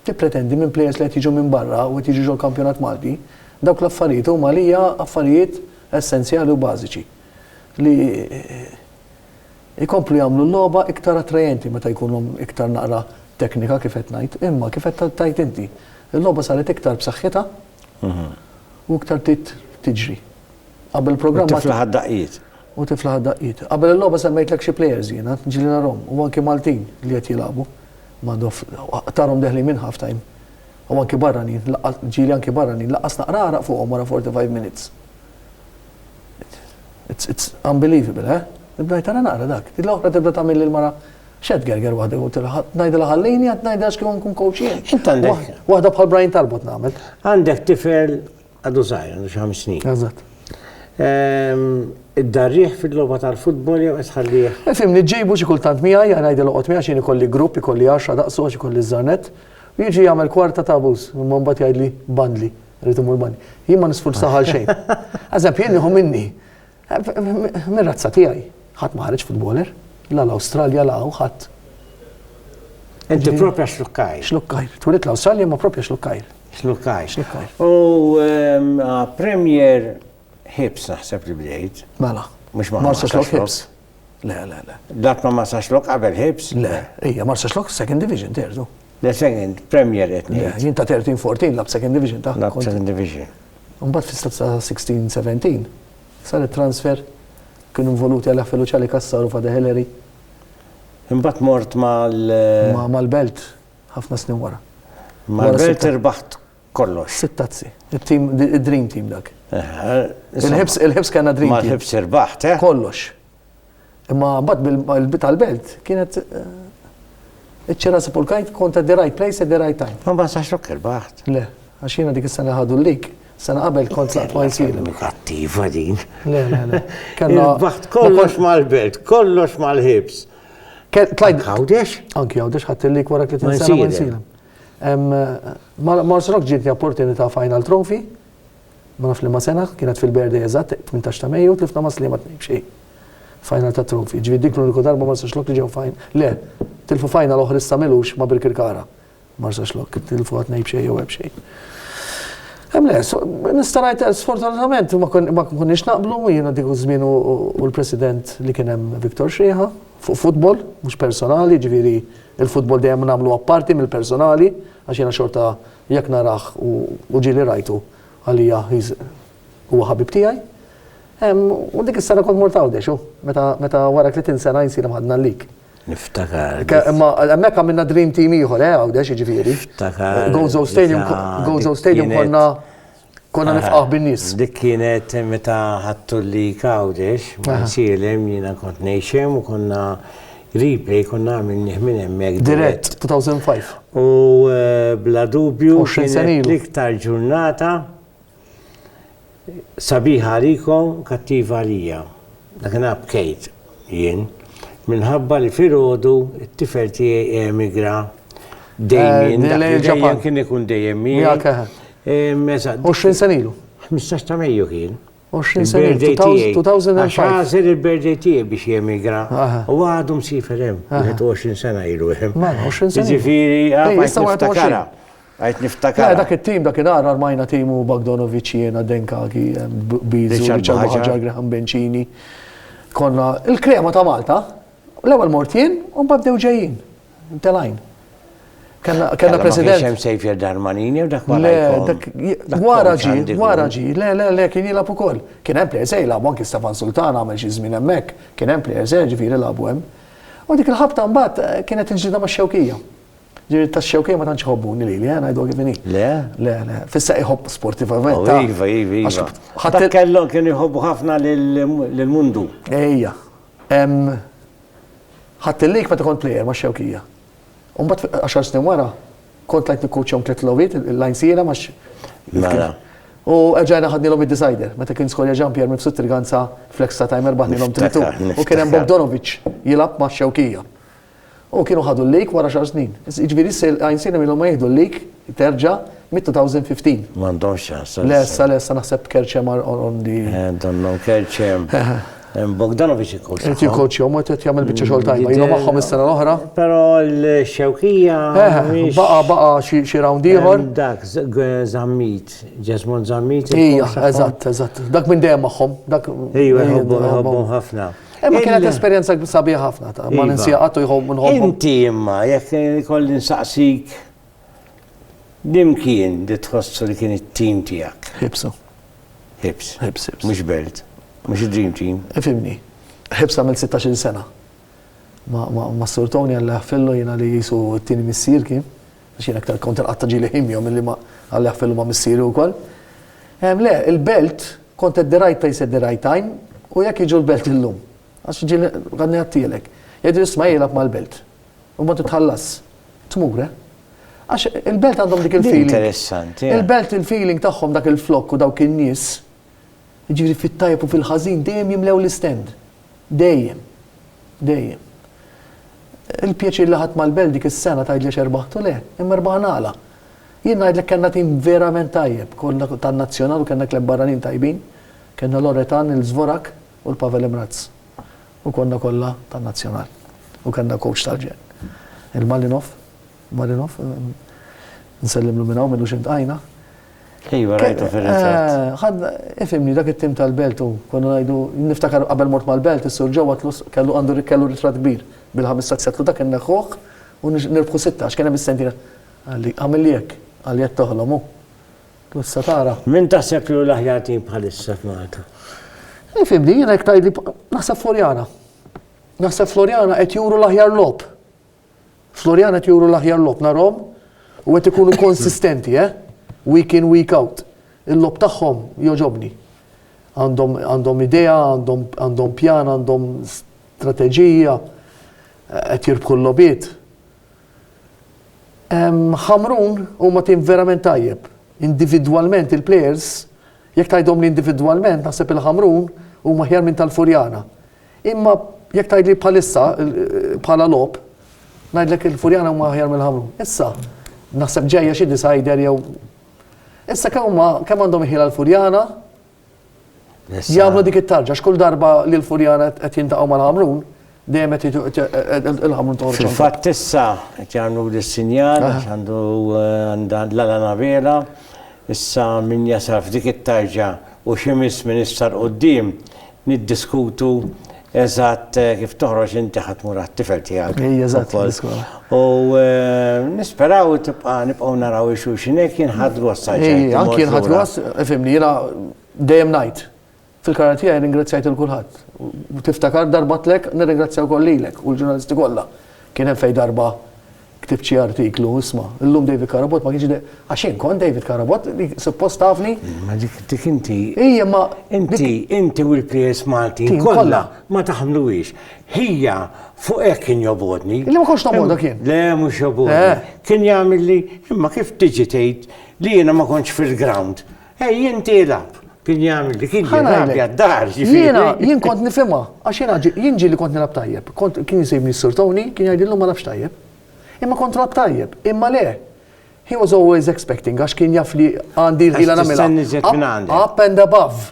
Tippretendi minn plejers li qed jiġu minn barra u qed jiġu ġol-kampjonat Malti, dawk l-affarijiet huma għalija affarijiet essenzjali u bażiċi li jkomplu jagħmlu l-logħba iktar attrajenti meta jkunu iktar naqra teknika kif qed ngħid, imma kif qed tgħid inti, il-logħba saret iktar b'saħħitha u iktar bdiet tiġri. Qabel il-programm. U tiflaħ għad-daqqiet. U tiflaħ għad-daqqiet. Qabel il-logħba semmejtlek xi plejers jiena, ġieli narhom, u anki Maltin li qed jilagħbu. Madoff, Aqtarhom deħlin minn half time. U anki barranin, laqqas, ġieli anki barranin, laqqas naqra għaraq fuqhom wara 45 minutes. It's, it's unbelievable, eh? Nibda ngħid ara naqra dak. Din l-oħra tibda tagħmel lil mara xed gerger waħda u tilha ngħidilha ħallini qed ngħidilha x'kien nkun coach jien. Int għandek. Waħda bħal Brian Talbot nagħmel. Għandek tifel Għadu zaħir, għandu xi ħames snin. Eżatt. Ehm, Id-darriħ fil-logħba tal-futbol jew qed tħallih? Eh, Fimni ġejbu xi kultant miegħi għal ngħidel oqgħod miegħi xejn ikolli grupp, ikolli għaxra daqsu għax ikolli żarnet. U jiġi jagħmel kwarta ta' abus, imma mbagħad jgħidli bandli, rrid imur bandli. Jien ma nisfurzaħ għal xejn. Eżempju, jien nieħu minni. Mir-razza tiegħi ħadd ma ħareġ futboler, la l-Awstralja la hawn ħadd. Inti propja xlukkajr. Xlukkajr. Twilid l-Awstralja ma propja xlukkajr. Xlukkajr. Xlukkajr. U ehm, Premier Hips naħseb li bdejt. Mela. Mux ma Marsa Xlok Hips. Le, le, le. Dat ma Marsa Xlok qabel Hips? Le, ija Marsa Xlok Second Division terdu. Le second Premier qed ngħid. Jien ta' 13-14 lab second division ta' Lab second division. Mbagħad fis-stat ta' 16-17 saret transfer kienu involuti għal Affelu Ċali Kassar u Fada Hillary. Imbagħad mort mal Mal-Belt ħafna snin wara. Mal-Belt irbaħt kollox. Sitt tazzi. Id-dream team dak. Il-ħibs kellna dream team. Mal-ħibs irbaħt, eh? Kollox. Imma mbagħad bil-bit tal-belt kienet iċ-ċera sepulkajt kont at the right place at the right time. Ma basax lok il-baħt. Le, għax jiena dik is-sena ħadu l-lik. Sena qabel kont laqt ma jisir. Kattiva din. Le, le, le. Kellna baħt kollox mal-belt, kollox mal-ħibs. Tlajt għawdex? Anki għawdex ħadd il-lik wara kif tinsena ma jisir. Mars Rock ġietni opportunità final trophy Ma nafx liema sena, kienet fil-birthday eżatt, tmintax ta' Mejju, tlifna ma' Sliema tnejn b'xi final ta' trofi. Ġifieri dik l-uniku darba Marsaxlokk li ġew fin, le, tilfu final oħra issa m'ilux ma' Birkirkara. Marsaxlokk, tilfuha tnejn b'xejn jew erba' b'xejn. Hemm le, nista' ngħid le, sfortunatament ma konniex naqblu, jiena dik iż-żmien u l-President li kien hemm Victor Schrieha, fuq futbol, mhux personali, ġifieri l-futbol dejjem nagħmlu apparti mill-personali għax jiena xorta Jekk narah u ġieli rajtu, għalija he's huwa ħabib tiegħi. U dik is-sena kont mort Għawdex, u meta wara tletin sena jinsir imħaddna għalik. Niftakar. Imma hemmhekk għamilna dream team ieħor, eh, Għawdex jiġifieri. Niftakar. Gozo Stadium, Gozo Stadium konna. Konna nifqaħ bin-nies. Dik kienet meta ħattu li kawdex, ma nsielem jiena kont ngħixem u konna replay konna għamilni minn hemmhekk. Dirett 2005. U eh, bla dubju l-iktar ġurnata sabiħa għalikom kattiva għalija. Dak bkejt jien minħabba li filgħodu t-tifel tiegħi emigra eh, dejjem dejjem kien ikun dejjem miegħek. 20 sena ilu. 15 ta' Mejju kien. 20 sena ilu. 2005. Għax għażel il-birthday tiegħi biex jemigra. U għadu msifer hemm. 20 sena ilu hemm. Ma, 20 sena. Ġifieri, għajt niftakara. Għajt niftakara. Dak it-tim dak il-għar armajna timu Bagdonovic jiena Denkagi, Bizu, Richard Ħaġar, Graham Bencini. Konna il-krema ta' Malta, l-ewwel mortien, u mbagħad bdew ġejjin. Telajn. Kellna kellna president. Ma kienx sejf jerdar manini u dak ma Wara ġi, wara ġi, le le le kien jilgħab ukoll. Kien hemm players se jilgħabu anki Stefan Sultan għamel xi żmien hemmhekk, kien hemm players se ġifieri lagħbu hemm. U dik il-ħabta mbagħad eh, kienet il-ġdida ma' xewkija. Ġiri ta' xewkija ma tantx iħobbuni li li għana jdu għivini. Le? Le, le. Fissa iħobb sportivament. Oh, iva, iva, iva. Ħatta kellhom kien iħobbu ħafna l-mundu. Ejja. Ħadt il-league meta kont plejer max-Xewkija. U mbagħad għaxar snin wara kont tlajt nikkowċjahom tliet logħbiet il-lajnsiera max. Mela. U erġajna ħadnilhom id-decider meta kien skorja Jean Pierre Mifsud Triganza fl-extra time erbaħnilhom tritu. U kien hemm Bogdanovic jilgħab max-Xewkija. U kienu ħadu l-league wara xar snin. Jiġifieri issa l-lajnsiera milhom ma jieħdu l-league terġa' mid-2015. M'għandhomx ċans. Lessa, lessa naħseb Kerċem għal Orondi. Donnhom Kerċem. Bogdanovic ikkowċja. Qed jikkowċja, mod qed jagħmel biċċa xogħol tajba. Ilu magħhom is-sena l-oħra. Però l-xewkija. Baqa' baqa' xi round ieħor. Dak Zammit, Jesmond Zammit. Ija, eżatt, eżatt. Dak minn dejjem magħhom. Ejwa, jħobbhom ħafna. Imma kienet esperjenza sabiħa ħafna ta' ma ninsija qatt u jħobb nħobb. Inti imma jekk kolli nsaqsik Din kien li tħossu li kien it-team tiegħek? Hibsa. Hibs. Hibs, hibs. Mhux belt. Mhux id-dream team. Ifhimni. Hibs għamilt 16-il sena. Ma, ma, ma Sur Tony għalli ħfillu jiena li jisu t-tieni missier kien. Għax jiena aktar kont il-qatta ġili ħimjom milli ma għalli ħfillu ma missieri wkoll. Em, le, il-belt kont at the right place at the right time u jekk jiġu l-belt illum. Għax ġili għadni għattielek. Jgħidu jisma jilab mal-belt. U mbagħad titħallas. Tmur, eh? Għax il-belt għandhom dik il-feeling. Interessanti. Il-belt il-feeling tagħhom dak il-flokk u dawk in-nies, jiġifieri fit-tajjeb u fil-ħażin dejjem jimlew l-istend. Dejjem. Dejjem. Il-pjaċir li ħadd mal-belt dik is-sena tgħidli x'erbħtu le, imma erbaħ nagħla. Jien ngħidlek kellna tim verament tajjeb, konna tan-nazzjonal u kellna kleb barranin tajbin, kellna Loretan, il-Zvorak u l-Pavel Imraz. U konna kollha tan-nazzjonal. U kellna coach tal-ġenn. Il-Malinov, Malinov, nsellimlu minn hawn minnu xi ntqajna. Iva, rajtu fir-ritratt. Ħadna, ifhimni, dak it-tim tal-Belt u konna ngħidu, niftakar qabel mort mal-Belt, is-Sur Joe għatlu kellu għandu kellu ritratt kbir bil-ħames saqs għatlu dak inneħħuh u nirbħu sitta għax kien hemm is-sentina. Qalli, għamilli hekk, qalli qed toħlom hu. Issa tara. Min taħseb li hu l-aħjar tim bħalissa f'Malta? Ifimni, jiena jekk tgħidli naħseb Floriana. Naħseb Floriana qed juru l-aħjar lob. Floriana qed juru l-aħjar lob narhom u qed ikunu konsistenti, eh? Week in, week out. Il-lob tagħhom joġobni. Għandhom idea, għandhom pjan, għandhom strateġija, qed jirbħu l-lobiet. Ħamrun huma tim verament tajjeb. Individwalment il-plejers, jekk tgħidhomli individwalment naħseb il-Ħamrun huma aħjar minn tal-Furjana. Imma jekk tgħidli bħalissa bħala logħob, ngħidlek il-Furjana huma aħjar mill-Ħamrun. Issa, naħseb ġejja xi decider jew. Issa kemm huma kemm għandhom il-ħila l-Furjana Jagħmlu dik it-tarġa, x'kull darba li l-Furjana qed jintaqgħu mal-Ħamrun, dejjem qed il-Ħamrun toħroġ. Fil-fatt issa qed jagħmlu l-sinjal għandu għandha l-għala navela, issa min jasal f'dik it-tarġa u xi miss minn issa l-qudiem niddiskutu Eżatt kif toħroġ inti ħa tmur għat-tifel tiegħek. Ej, eżatt, fl-iskola. U eh, nisperaw tibqa' nibqgħu naraw il xulxin hekk jinħad gost Ej, anki jinħad gost, fimni, jiena dejjem ngħid. Fil-karar tiegħi ringrazzjajt il kulħadd. Tiftakar darbatlek nirringrazzjaw kollilek u l-ġurnalisti kollha. Kien hemm fej darba Ktibt xi artiklu, isma', illum David Carabott ma kienx għax jien kont David Carabott li suppost tafni. Ma dik dik inti. Ija ma. Inti, inti u l-PS Malti kollha ma taħmluhiex. Ħija fuq hekk kien jobgħodni. Li ma kontx nobgħodok jien. Le mhux jobgħodni. Kien jagħmilli imma kif tiġi tgħid li jiena ma kontx fil-ground. Ej int ilgħab! Kien jagħmel dik il-ġirja. Ħa ngħidlek. Jiena, jien kont nifhimha, għax jiena jien ġieli kont nilgħab tajjeb. Kont, kien jsibni s-Sur Tony, kien jgħidilli ma lagħbx tajjeb. Imma kont nilgħab tajjeb. Imma le! He was always expecting għax kien jaf li għandi rħila nagħmilha. Għax tistenna iżjed minn għandek. Up and above.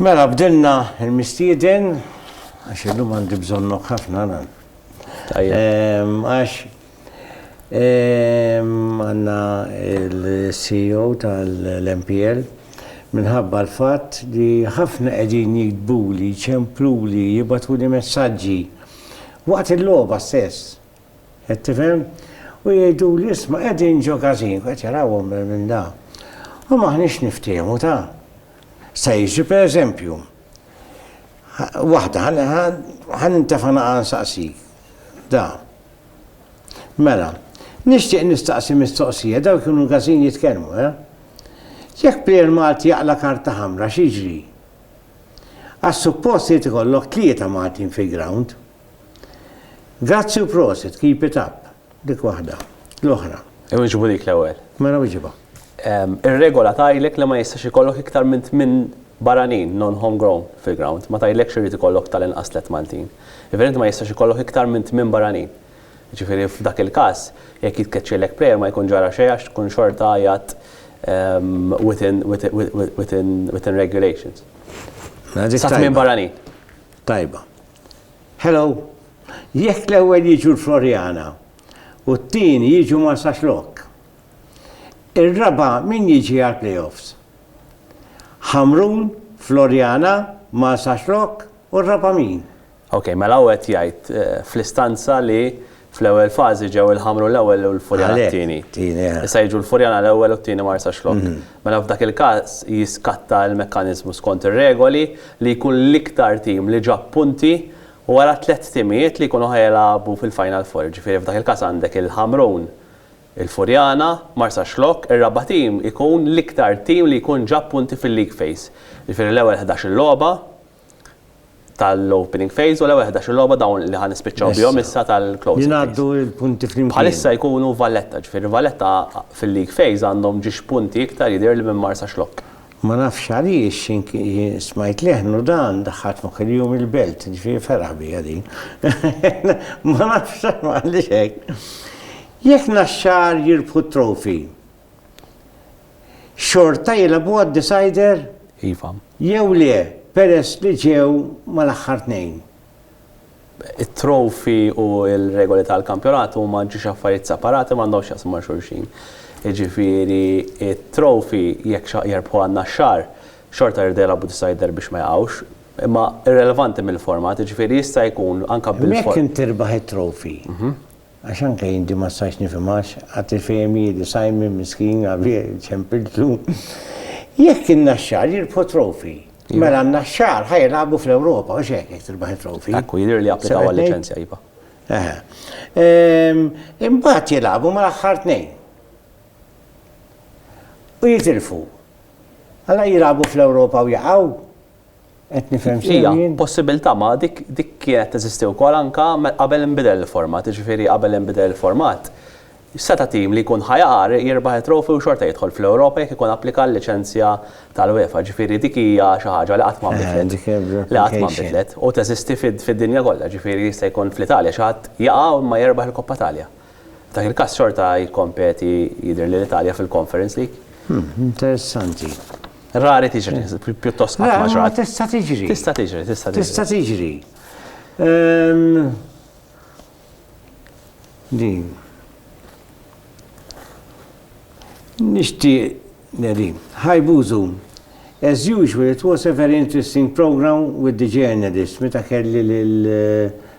Mela bdilna il-mistieden, għax illum għandi bżonnok ħafna nan. Għax għanna il-CEO tal-MPL minħabba l-fatt li ħafna qegħdin jikdbuli, ċempluli, jibatu li messaġġi. Waqt il-logħba stess, Qed tifhem? U jgħiduli, isma' qegħdin ġo każin, qed jarawhom minn minn da. U m'aħniex niftiehmu ta'. Sta' jiġri pereżempju, waħda, ħa nintefa' naqa' nsaqsik. Da. Mela, nixtieq nistaqsi mistoqsija, dawn kienu każin jitkellmu, eh? Jekk plejer Malti jaqla' karta ħamra x'jiġri? Għax suppost irid ikollok tlieta Maltin fil-grawnd. Grazzi u prosit, keep it up. Dik waħda. L-oħra. Iwieġbu dik l-ewwel. Mela wieġibha. Ir-regola tgħidlek li ma jistax ikollok iktar minn tmien barranin, non-home grown, fil-ground. Ma tgħidlekx li jrid ikollok tal-inqas tliet Maltin. Jiġifieri inti ma jistax ikollok iktar minn tmien barranin. Jiġifieri f'dak il-każ, jekk jitkeċċielek player ma jkun ġara xejn għax tkun xorta qiegħed within regulations. Sa tmien barranin. Tajba. Hello! Jekk l-ewwel jiġu l-Floriana u t-tieni jiġu Marsaxlokk, ir-raba' min jiġi għall-playoffs? Ħamrun, Floriana, Marsaxlokk u r-raba' min? Ok, mela hu qed jgħid fl-istanza li Fl-ewwel fażi ġew il-Ħamru l-ewwel u l-Furjana t-tieni. Issa jiġu l-Furjana l-ewwel u t-tieni Marsaxlokk. Mela f'dak il-każ jiskatta l-mekkaniżmu skont ir-regoli li jkun l-iktar tim li ġab punti wara tliet timijiet li jkunu ħa jilagħbu fil-Final Four. Jiġifieri f'dak il-każ għandek il-Ħamrun, il-Furjana, Marsaxlokk, ir-raba' tim ikun l-iktar tim li jkun ġab punti fil-League Phase. Jiġifieri l-ewwel ħdax-il logħba, tal-opening phase u l-ewwel 11-il logħba dawn li ħa nispiċċaw bihom issa tal-closing phase. Jingħaddu l-punti flimkien. Bħalissa jkunu Valletta, ġifieri Valletta fil-league phase għandhom ġiex punti iktar jidhirli minn Marsax Lok. Ma nafx għaliex smajt leħen u dan daħħal f'moħħi li jum il-belt, ġifieri feraħ bija din. Ma nafx għaliex hekk. Jekk Naxxar jirbħu t-trophy, xorta jilagħbu għad-decider? Iva. Jew le, peress li ġew mal-aħħar tnejn? It-trophy u l-regoli tal-kampjonat huma ġiex affarijiet separati m'għandhomx x'jaqsmu ma' xulxin. Jiġifieri t-trophy jekk xi jerbħu għan-Naxxar, xorta jridu jilagħbu decider biex ma jaqgħux. Imma irrelevanti mill-format, jiġifieri jista' jkun anke bil-format. Jekk int tirbaħ it-trophy, Għax anke jien din ma stajtx nifhimhax, għad tifhem hi li Simon miskin avie ċempiltlu. Jekk in-Naxxar jirbħu t-trophy, mela n-Naxxar ħa jilagħbu fl-Ewropa, hux hekk jekk tirbaħ it-trophy? Ekku, jidhirli li applikaw għal-liċenzja, iva. Eħe. Imbagħad jilagħbu mal-aħħar tnejn. U jitilfu. Alla jilagħbu fl-Ewropa u jaqgħu? Qed nifhem sew Hija jien? possibilità ma dik dik kienet teżisti wkoll anke me- qabel inbidel il-format, jiġifieri qabel inbidel il-format seta' tim li jkun ħa jaqar jirbaħ it-trophy u xorta jidħol fl-Ewropa jekk ikun applika għal-liċenzja tal-UEFA, jiġifieri dik hija xi ħaġa li qatt ma nbidlet. Dik hija Li qatt ma replication. nbidlet u teżisti fid- fid-dinja kollha, jiġifieri jista' jkun fl-Italja xi ħadd jaqa' u imma jerbaħ il-Koppa Italja. F'dak il-każ xorta jikkompeti jidhirli l-Italja fil-Conference League. Hm, interessanti. Rari tiġri, pjuttost qatt ma ġrat. Tista' tiġri. Tista' tiġri, tista' tiġri. Tista' tiġri. Ehm, din. Nishti, din. Hi Buzu. As usual, it was a very interesting program with the journalist, meta kelli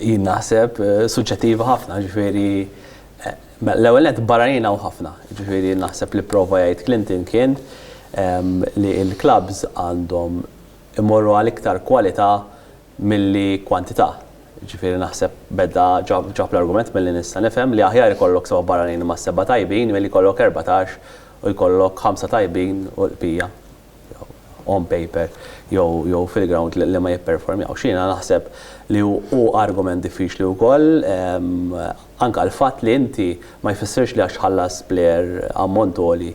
Jien naħseb eh, suġġettiva ħafna, ġifieri eh, l-ewwel net barranin hawn ħafna, ġifieri naħseb li prova jgħid Clinton kien ehm, li l-klabs għandhom imorru għal iktar kwalità milli kwantità. Ġifieri naħseb beda ġab l-argument milli nista' nifhem li aħjar ikollok seba' barranin ma' seba' tajbin milli jkollok 14 u jkollok ħamsa tajbin u l-qbija. on paper jew fil-ground li ma jipperformjawx. Jiena naħseb li hu argument diffiċli wkoll anke l-fatt li inti ma jfissirx li għax tħallas plejer ammont għoli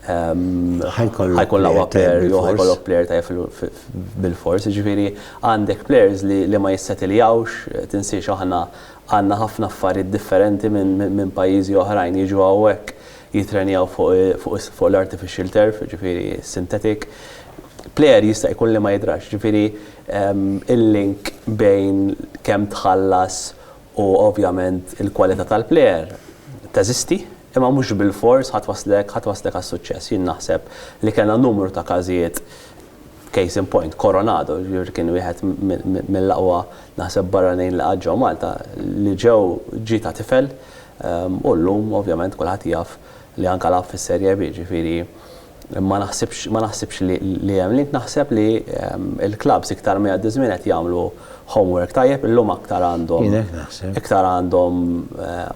ħajkun l-aqwa plejer jew ħajkollok plejer tajjeb bilfors. Jiġifieri għandek plejers li ma jissetiljawx, tinsiex aħna għandna ħafna affarijiet differenti minn pajjiżi oħrajn jiġu hawnhekk jittrenjaw fuq l-artificial turf, jiġifieri synthetic, plejer jista' jkun li ma jidrax. Jiġifieri il-link bejn kemm tħallas u ovvjament il-kwalità tal-plejer teżisti, imma mhux bilfors ħa twaslek għas-suċċess. Jien naħseb li kellna numru ta' każijiet, case in point, Coronado kien wieħed mill-aqwa naħseb barranin li qatt ġew Malta, li ġew ġie ta' tifel u llum ovvjament kulħadd jaf li anke lagħab fis-Serie B, ġifieri ma naħsibx ma naħsibx li li hemm link, naħseb li l-klabbs iktar ma jgħaddi ż-żmien qed jagħmlu homework tajjeb, illum aktar għandhom Jien hekk naħseb. iktar għandhom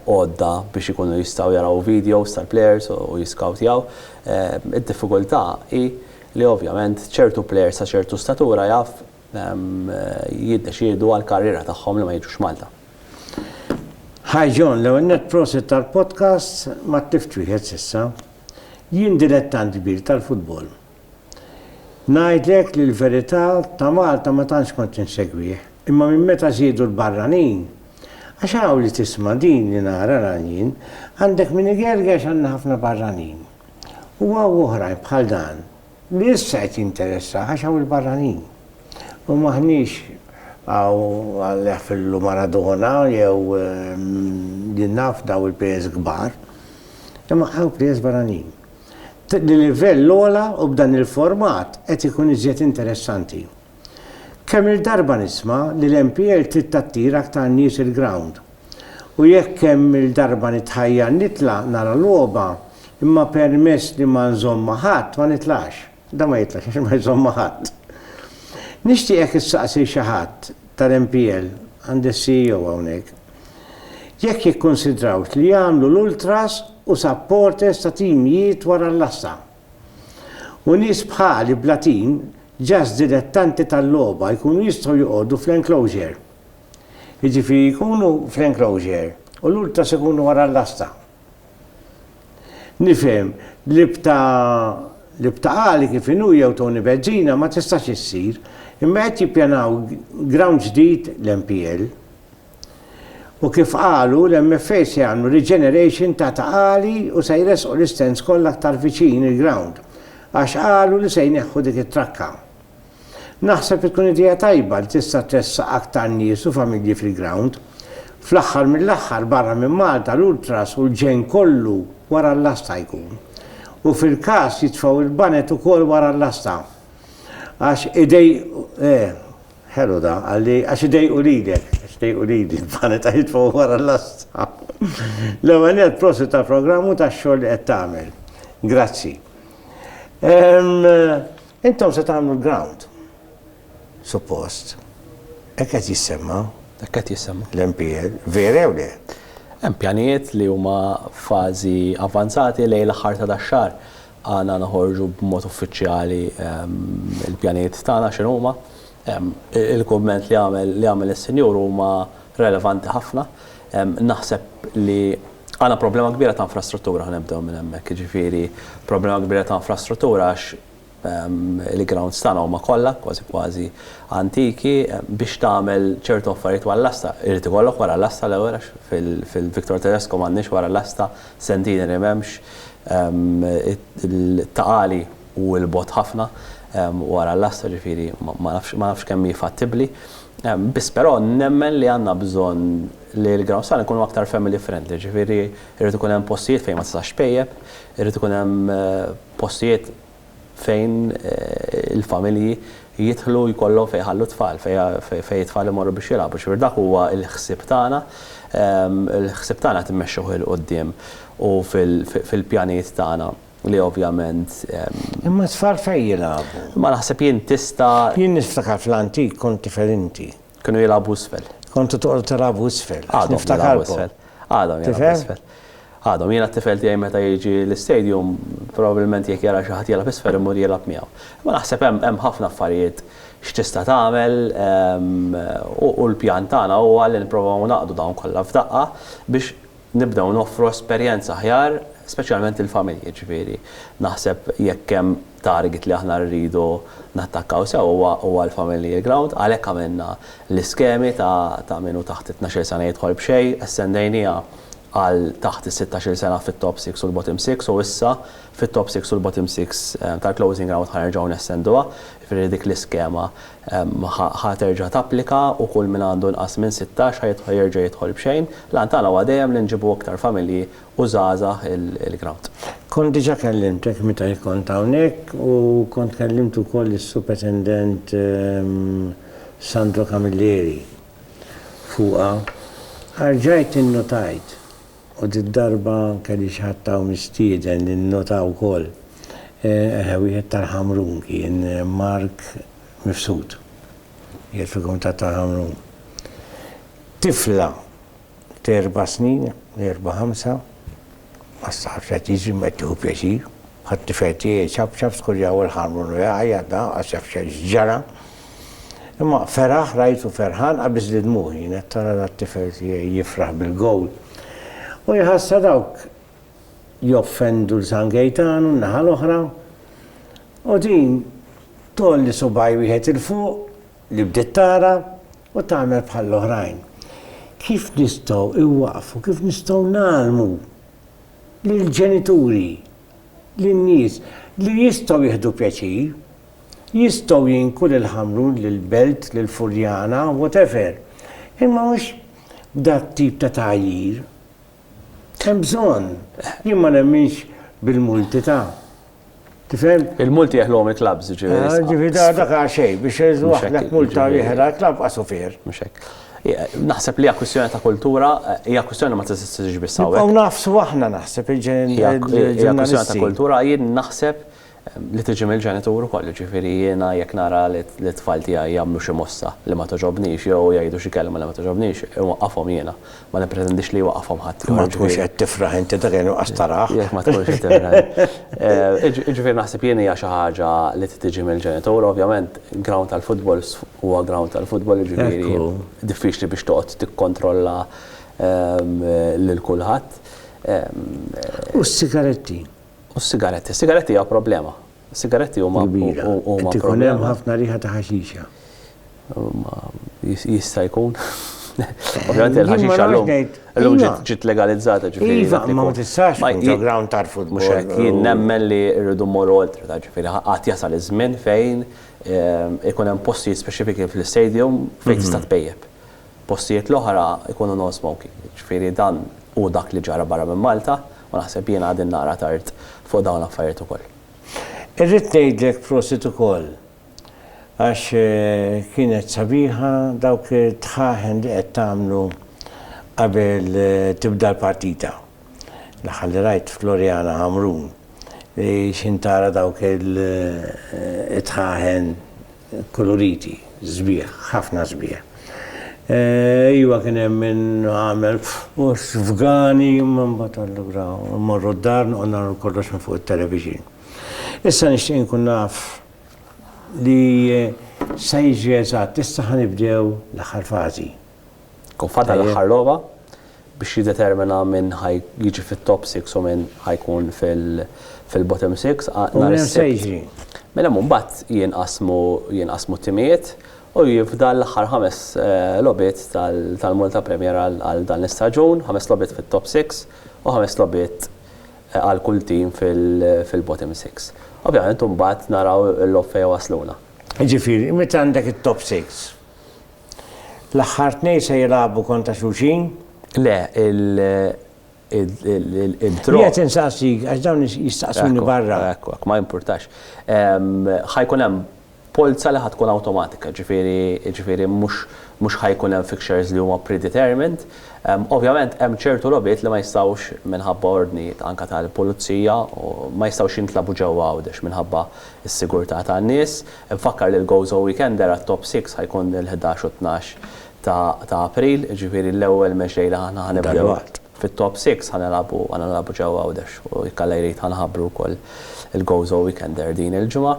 għodda biex ikunu jistgħu jaraw videos tal-plejers u jiskawtjaw. Id-diffikultà hi li ovvjament ċertu plejers ta' ċertu statura jaf jiddeċiedu għall-karriera tagħhom li ma jiġux Malta. Hi John, l-ewwel nett prosit tal-podcast ma tlift wieħed s'issa. Jien dilettant kbir tal-futbol. Ngħidlek li l-verità ta' Malta ma tantx kont insegwih, imma minn meta żiedu l-barranin, għax hawn li tisma' din li nara nagħl jien, għandek min igergex għandna ħafna barranin. U hawn oħrajn bħal dan. Li issa qed jinteressah għax hawn il-barranin. U m'aħniex hawn għal jaħfirlu Maradona jew li naf dawn il-plejers kbar. Imma hawn plejers barranin. Li livell ogħla u b'dan il-format qed ikun iżjed interessanti. Kemm-il darba nisma' li l-MPL trid tattir aktar nies il-grawnd. U jekk kemm-il darba nitħajjar nitla' nara logħba imma permess li ma nżomm ma' ħadd ma nitlax. Dan ma jitlax għax ma jżomm ma' ħadd. Nixtieq jekk issaqsi xi ħadd tal-MPL, għandi s-CEO hawnhekk, jekk jikkunsidrawx li jagħmlu l-ultras u supporters ta' team jiet wara l-għassa. U nies bħali bla tim, just dilettanti tal-logħba, jkunu jistgħu joqogħdu fl-enclosure. Jiġifieri jkunu fl-enclosure u l-Ultras ikunu wara l-lasta. Nifhem li b'ta' li b'ta' Ali kif inhu jew Tony Bezzina ma tistax issir, imma qed jippjanaw ground ġdid l-MPL. U kif qalu, l-MFA se jagħmlu regeneration ta' ta' għali u se jressqu l-istands kollha aktar viċin il-ground għax qalu li se jneħħu dik it-trakka. Naħseb li tkun idea tajba li tista' tressaq aktar nies u familji fil-ground. Fl-aħħar mill-aħħar barra minn Malta l-ultras u l-ġenn kollu wara l-lasta jkun. U fil-każ jitfgħu l-banet ukoll wara l-lasta. Għax idejqu eh. Ħelu dan, qal li, għax idejqu lilek, għax idejqu lili, bħalli ta' jitfgħu wara l-lasta. L-ewwel nett prosit tal-programm u tax-xogħol li qed tagħmel. Grazzi. Intom se tagħmlu l-ground. Suppost. Hekk qed jissemma. Hekk qed jissemma. L-MPL, vera jew le? Hemm pjanijiet li huma fażi avvanzati lejn l-aħħar ta' dax-xahar. Għandna noħorġu b'mod uffiċjali l-pjanijiet tagħna x'inhuma. Il-kumment li għamel li għamel is-Sinjur huma relevanti ħafna. Naħseb li għandna problema kbira ta' infrastruttura, ħa nibdew minn hemmhekk, jiġifieri problema kbira ta' infrastruttura għax il-grounds tagħna huma kollha kważi kważi antiki. Biex tagħmel ċertu affarijiet wara l-asta, irid ikollok wara l-asta l-ewwel għax fil-Victor Tedesco m'għandniex wara l-asta Sentini li m'hemmx ta' għali u 'l bogħod ħafna wara l-lasta, ġifieri ma nafx kemm hi fattibbli. Biss però nemmen li għandna bżonn li l-ground stand ikunu aktar family friendly, ġifieri jrid ikun hemm postijiet fejn ma tistax tpejjep, irid ikun hemm postijiet, fejn il-familji jidħlu jkollhom fejn jħallu t-tfal, fejn it-tfal imorru biex jilgħabu. Ġifieri dak huwa l-ħsieb tagħna, il-ħsieb tagħna qed immexxuh 'il quddiem u fil-pjanijiet tagħna li ovvjament. Imma t-tfal fejn jilgħabu? Imma naħseb jien tista'. Jien niftakar fl-antik kont tifel inti. Kienu jilagħbu isfel. Kontu toqgħodu tilagħbu isfel. Għadhom jilagħbu isfel. Għadhom jilagħbu isfel. Għadhom, jiena t-tifel tiegħi meta jiġi l-istadium, probabbilment jekk jara xi ħadd jilgħab isfel imur jilgħab miegħu. Imma naħseb hemm ħafna affarijiet x'tista' tagħmel u l-pjan tagħna huwa li nipprovaw ngħaqqdu dawn kollha f'daqqa biex nibdew noffru esperjenza aħjar speċjalment lill-familji. Jiġifieri naħseb jekk hemm target li aħna rridu nattakkaw sew huwa l-familiar ground, għalhekk għamilna l-iskemi ta' min hu taħt it-tnax-il sena jidħol b'xejn, estendejniha għal taħt is-sittax-il sena fit-top six u l-bottom six u issa fit-top six u l-bottom six tal-closing round ħa nerġgħu nestenduha, jiġifieri dik l-iskema ħa terġa' tapplika u kull min għandu inqas minn sittax ħa jerġa' jidħol b'xejn. L-għan tagħna huwa dejjem li nġibu iktar familji u żgħażagħ il-grawt. Kont diġa kellimtek meta jien kont hawnhekk u kont kellimt ukoll lis-Supetendent Sandro Camilleri fuqha. Rġajt innutajt, u did-darba kelli xi ħadd hawn mistieden li nnota wkoll, eħe wieħed tal-Ħamrun kien, Mark Mifsud, qiegħed fil-Kumitat tal-Ħamrun. Tifla t'erba' snin, erba' ħamsa, ma staħabx qed jiġri ma qed tieħu pjaċir. Ħat-tifel tiegħi jċapċap, skurjaw il-ħarmon u jgħajjat da, għax jaf x'ġara. Imma feraħ, rajtu ferħan, qabiż li dmugħi, jien qed tara dat-tifel tiegħi jifraħ bil-gowl. U jħassha dawk joffendu 'l San Gejtanu n-naħa l-oħra, u din tgħolli subgħaj wieħed 'il fuq li bdiet tara, U tagħmel bħall-oħrajn. Kif nistgħu inwaqqfu, kif nistgħu ngħallmu lill-ġenituri, lin-nies li jistgħu jieħdu pjaċir, jistgħu jinku lil Ħamrun, lil Belt, lil Furjana, whatever, imma mhux b'dak tip ta' tgħajjir. Hemm bżonn. Jien ma nemminx bil-multi ta'. Tifhem? Il-multi jeħluhom il-klabbs, jiġifieri. Ah, jiġifieri da dak għal xejn biex jeżu waħdek multa li jeħilha l-klabb qasu fier. Mhux hekk. Naħseb li hija kwistjoni ta' kultura, hija kwistjoni ma tista' tiġix biss hawn. Hawn nafsu aħna naħseb il-ġurnalisti. Hija kwistjoni ta' kultura jien naħseb li tiġi mill-ġenitur ukoll, ġifieri jiena jekk nara li t-tfal tiegħi jagħmlu xi mossa li ma toġobnix jew jgħidu xi kelma li ma toġobnix, inwaqqafhom jiena. ma nippretendix li jwaqqafhom ħadd ieħor. Ma tkunx qed tifraħ inti dak kien nuqqas taraħ. Jekk ma tkunx qed tifraħ. Eh, Iġifieri naħseb jien hija xi ħaġa li tiġi mill-ġenitur, ovvjament ground tal-futbol huwa ground tal-futbol jiġifieri diffiċli biex toqgħod tikkontrolla ehm, lil kulħadd. Ehm, u s-sigaretti? U s-sigaretti. Sigaretti hija problema. Sigaretti huma kbira. Qed ikun hemm ħafna riħa ta' ħaxixa. Jista' jkun. Ovvjament il-ħaxixa llum illum ġiet legalizzata ġifieri. Iva, imma ma tistax tkun ġo ground tarfut mhux hekk. Jien nemmen li rridu mmorru oltre ta' ġifieri għad jasal iż-żmien fejn ikun hemm postijiet speċifiki fl-istadium fejn tista' tpejjep. Postijiet l-oħra jkunu non-smoking. Jiġifieri dan hu dak li ġara barra minn Malta u naħseb jiena qegħdin naqra tard fuq dawn l-affarijiet ukoll. Irrid ngħidlek prosit ukoll għax kienet sabiħa dawk it-tħaħen li qed tagħmlu qabel tibda l-partita. L-aħħar li rajt f'Gloriana Ħamrun li x'intara dawk il-tħaħen. Koloriti, sbieħ, ħafna sbieħ. Iva kien hemm min għamel f'gani imma mbagħad allura mmorru d-dar noqgħod nagħmlu kollox minn fuq it-television. Issa nixtieq inkun naf li sa jiġri eżatt, issa ħa nibdew l-aħħar fażi. Ikun fadal l-aħħar logħba biex jiddetermina min ħa jiġi fit-top six u min ħa jkun fil-bottom six. U min hemm se jiġri? Mela hemm imbagħad jinqasmu t-timijiet u jifdal l-aħħar ħames logħbiet tal-Malta Premier għal dan l-istaġun, ħames logħbiet fit-top six u ħames logħbiet għal kull tim fil-bottom six. Ovvjament imbagħad naraw il-logħob fejn iwassluna. Jiġifieri meta għandek it-top six, L-aħħar tnejn se jilagħbu kontra xulxin? Le, il-draw. Jien qed insaqsik għax dawn jistaqsuni barra. Ekku, ma jimpurtax. Ħajkun hemm polza li ħa tkun awtomatika, ġifieri mhux ħa jkun hemm fixtures li huma predetermined. Ovvjament hemm ċertu logħbiet li ma jistgħux minħabba ordni anke tal-pulizija, ma jistgħux jintlagħbu ġewwa Għawdex minħabba s-sigurtà tan-nies. Infakkar li l-Gozo Weekender għat-Top Six ħa jkun il-ħdax u t-tnax ta' April, jiġifieri l-ewwel match li aħna ħa nibdew fit-Top Six ħa nilagħbu ħa nilagħbu ġewwa Għawdex u jekk Alla jrid ħa nħabbru wkoll il-Gozo Weekender din il-ġimgħa.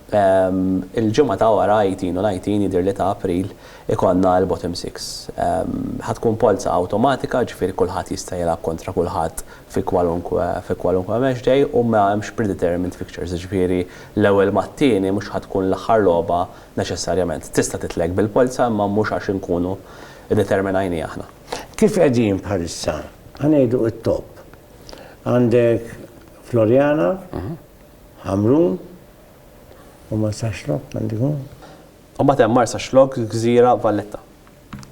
Il-ġimgħa ta' wara, eighteen u nineteen jidhirli ta' April, ikollna l-Bottom Six. Ħa tkun polza awtomatika, jiġifieri kulħadd jista' jilgħab kontra kulħadd fi kwalunkwe fi kwalunkwe match day u ma hemmx predetermined fixtures, jiġifieri L-ewwel mat-tieni mhux ħa tkun l-aħħar logħba neċessarjament. Tista' titlek bil-polza imma mhux għax inkunu iddeterminajniha aħna. Kif qegħdin bħalissa, ħa ngħidu it-top. Għandek Floriana, Ħamrun u Marsaxlokk għandu jkun? U mbagħad hemm Marsaxlokk, Gżira, Valletta.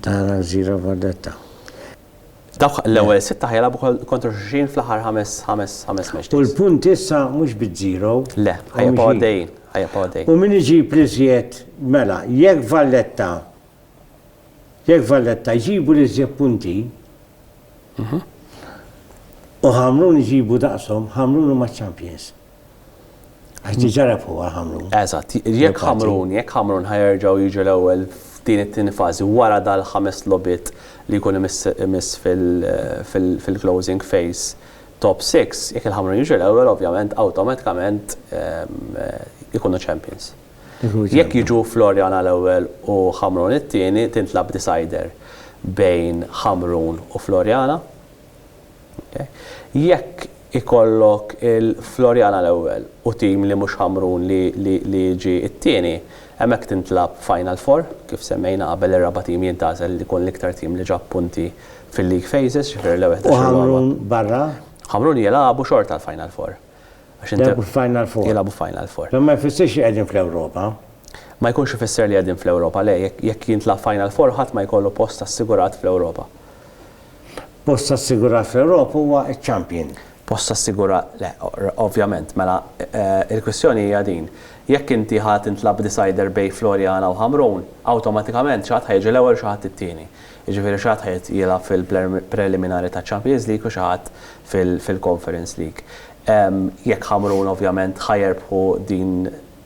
Tara Zira Valletta. Dawk l-ewwel sitta ħajilagħbu kontra xulxin fl-aħħar ħames ħames ħames matches. U l-punti issa mhux biż-żero. Le, ħajibqgħu għaddejjin, ħajibqgħu għaddejjin. U min iġib l-iżjed, mela, jekk Valletta jekk Valletta jġibu l-iżjed punti, u Ħamrun iġibu daqshom, Ħamrun huma ċ-champions. Għax diġa refuha Ħamrun. Eżatt, jekk Ħamrun, jekk Ħamrun ħajerġgħu jiġu l-ewwel f'din it-tieni fażi wara dal-ħames logħbiet li jkun imiss fil-closing phase top six, jekk il-Ħamrun jiġu l-ewwel ovvjament awtomatikament ikunu champions. Jekk jiġu Floriana l-ewwel u Ħamrun it-tieni tintlagħab decider bejn Ħamrun u Floriana. Jekk ikollok il-Floriana l-ewwel u tim li mhux Ħamrun li jiġi t-tieni, hemmhekk tintlagħab Final Four, kif semmejna qabel ir-raba' tim jintgħażel li jkun l-iktar tim li ġab punti fil-league phases, ġifieri l-ewwel ħdax-il logħba. U Ħamrun barra? Ħamrun jilagħbu xorta l-Final Four. Jilagħbu f'Final Four? Jilagħbu f'Final Four. Dan ma jfissirx li qegħdin fl-Ewropa? Ma jkunx ifisser li qegħdin fl-Ewropa, le, jekk jintlagħab Final Four ħadd ma jkollu post assigurat fl-Ewropa. Post assigurat fl-Ewropa huwa ċ-champion. Post assigurat, le, ovvjament. Mela, il-kwistjoni hija din, jekk inti ħa tintlagħab b'decider bejn Floriana u Ħamrun, awtomatikament xi ħadd ħa jiġi l-ewwel u xi ħadd it-tieni. Jiġifieri xi ħadd ħa jilgħab fil-preliminari taċ-Champions League u xi ħadd fil-Conference League. Jekk Ħamrun ovvjament ħa jerbħu din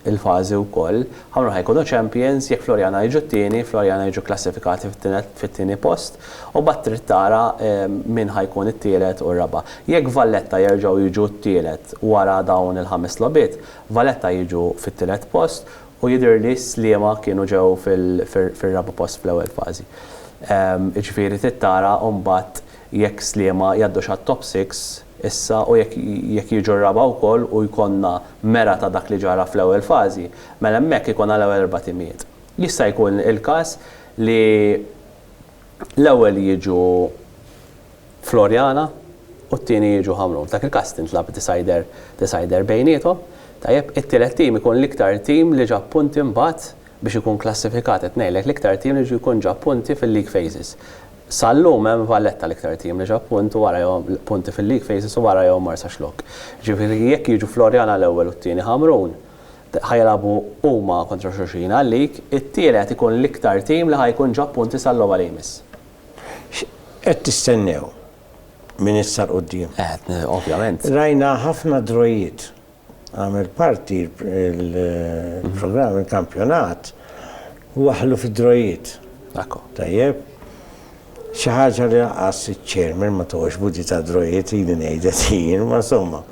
il-fażi wkoll. Ħamruħ jkunu champions, jekk Floriana jiġu t-tieni, Floriana jiġu kklassifikati fit-tieni post, u mbagħad trid tara min ħa jkun it-tielet u r-raba'. Jekk Valletta jerġgħu jiġu t-tielet wara dawn il-ħames logħbiet, Valletta jiġu fit-tielet post u jidhirli Sliema kienu ġew fir-raba' post fl-ewwel fażi. Jiġifieri trid tara mbagħad jekk Sliema jgħaddux għat-top six, Issa, u jekk jekk jiġu r-raba' wkoll u jkollna mera ta' dak li ġara fl-ewwel fażi, mela hemmhekk ikollna l-ewwel erba' timijiet. Jista' jkun il-każ li l-ewwel jiġu Floriana u t-tieni jiġu Ħamrun. F'dak il-każ tintlagħab decider decider bejniethom. Tajjeb, it-tielet tim ikun l-iktar tim li ġab punti mbagħad biex ikun klassifikat qed ngħidlek l-iktar tim li jkun ġab punti fil-league phases. Sal-lum hemm Valletta l-iktar tim li ġab punt u wara jew punti fil-league phases u wara jew mar sa xlokk. Jiġifieri jekk jiġu Floriana l-ewwel u t-tieni Ħamrun, ħa jilagħbu huma kontra xulxin għal-league, it-tielet ikun l-iktar tim li ħa jkun ġab punti sal-logħba li jmiss. X'qed tistennew minn issa 'l quddiem? Ovvjament. Rajna ħafna drawiet Għamel parti l-programm il-kampjonat u waħħlu fid-drojiet. Ekku. Tajjeb. Xi ħaġa li lanqas iċ-chairman ma toħx budi ta' drojiet ili ngħidek jien, ma somma.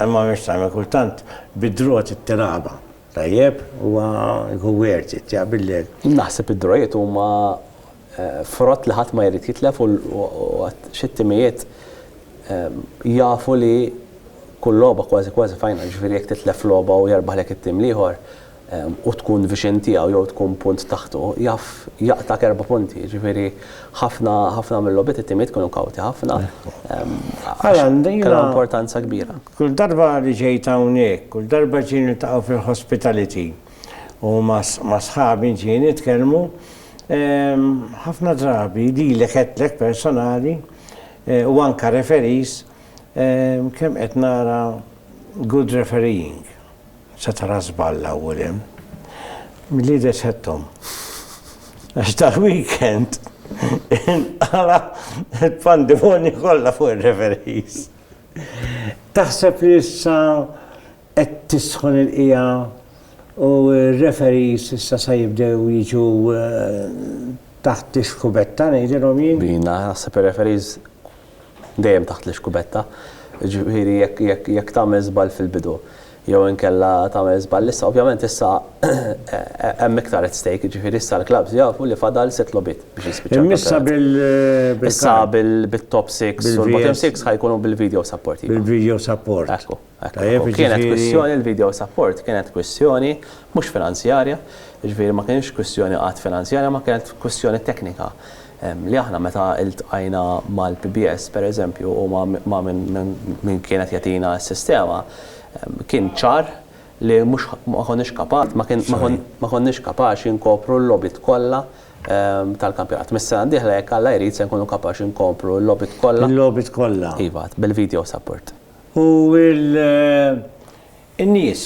Imma mhix tagħmel kultant bid-drot it-tilgħabha. Tajjeb? Huwa jkun worth it, jaqbillek. Naħseb id-drojiet huma frott li ħadd ma jrid jitlef u għad xi timijiet jafu li kull logħba kważi kważi final, jiġifieri jekk titlef logħba u jerbaħlek it-tim l-ieħor u tkun viċin tiegħu jew tkun punt taħtu, jaf jaqtgħak erba' punti, jiġifieri ħafna ħafna mil-logħbiet it-timijiet kienu kawti ħafna għax kellhom importanza kbira. Kull darba li ġejt hawnhekk, kull darba ġiet niltaqgħu fil-hospitality u ma' sħabi ġiet nitkellmu, Ħafna drabi lilek għedtlek personali u anke referees kemm qed nara good refereeing. Se tara żball l-ewwel hemm. Milli jidher x'għedthom. Għax dal-weekend inqala' l-pandemonju kollha fuq ir-referees. Taħseb li issa Qed tisħon il-qiegħa u r-referees issa se jibdew jiġu taħt ix-xkubetta ngħidilhom jien. Jiena naħseb ir-referees dejjem taħt l-ixkubetta. Jiġifieri jekk tagħmel żball fil-bidu jew inkella tagħmel żball issa, ovvjament issa hemm iktar at stake, jiġifieri issa l-klabbs jafu li fadal sitt logħbiet biex jispiċċa l-kampjonat. Imissa bil-kard. Issa bit-top six u l-bottom six ħa jkunu bil-video support. Bil-video support. Ekku. Kienet kwistjoni, il-video support kienet kwistjoni mhux finanzjarja, jiġifieri ma kienx kwistjoni qatt finanzjarja ma kienet kwistjoni teknika li aħna meta iltqajna mal-PBS pereżempju u ma' min kien qed jagħtina s-sistema kien ċar li mhux ma konniex kapaċi ma konniex kapaċi nkopru l-logħbiet kollha tal-kampjonat. Mis-sena d-dieħla jekk Alla jrid se nkunu kapaċi nkopru l-logħbiet kollha. Il-logħbiet kollha. Iva, bil-video support. U l-nies.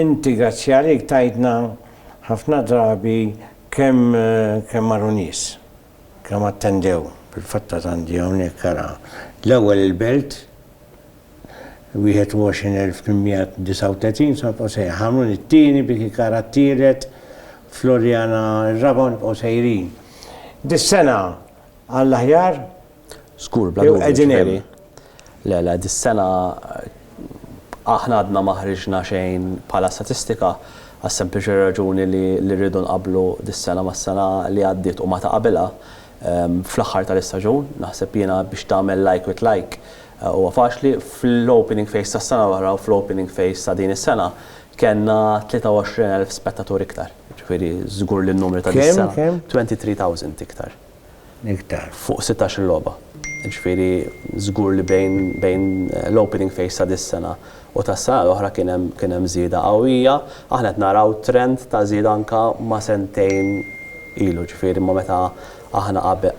Inti grazzi għalik tgħidna ħafna drabi kemm kemm marru nies, kemm attendew. Fil-fatt għad għandi hawnhekk ara l-ewwel il-Belt 21839 se nibqgħu sejrin, Ħamrun it-tieni, Birkirkara t-tielet, Floriana r-raba' u nibqgħu sejrin. Dis-sena għall-aħjar Żgur, bla dubju. Qegħdin hemm. Le, le, dis-sena aħna għadna ma ħriġna xejn bħala statistika għas-sempliċi raġuni li rridu nqabblu dis-sena mas-sena li għaddiet u ma ta' qabilha. Fl-aħħar tal-istaġun, naħseb jiena biex tagħmel like with like huwa faċli, fl-opening phase tas-sena l-oħra u fl-opening phase ta' din is-sena kellna 23,000 spettatur iktar. Jiġifieri żgur li n-numri ta' dis-sena. Kemm, kemm? 23,000 iktar. iktar. Fuq sittax-il logħba. Jiġifieri żgur li bejn bejn l-opening phase ta' dis-sena u tas-sena l-oħra kien hemm kien hemm żieda qawwija. Aħna qed naraw trend ta' żieda anke ma' sentejn ilu, jiġifieri ma' meta aħna qabel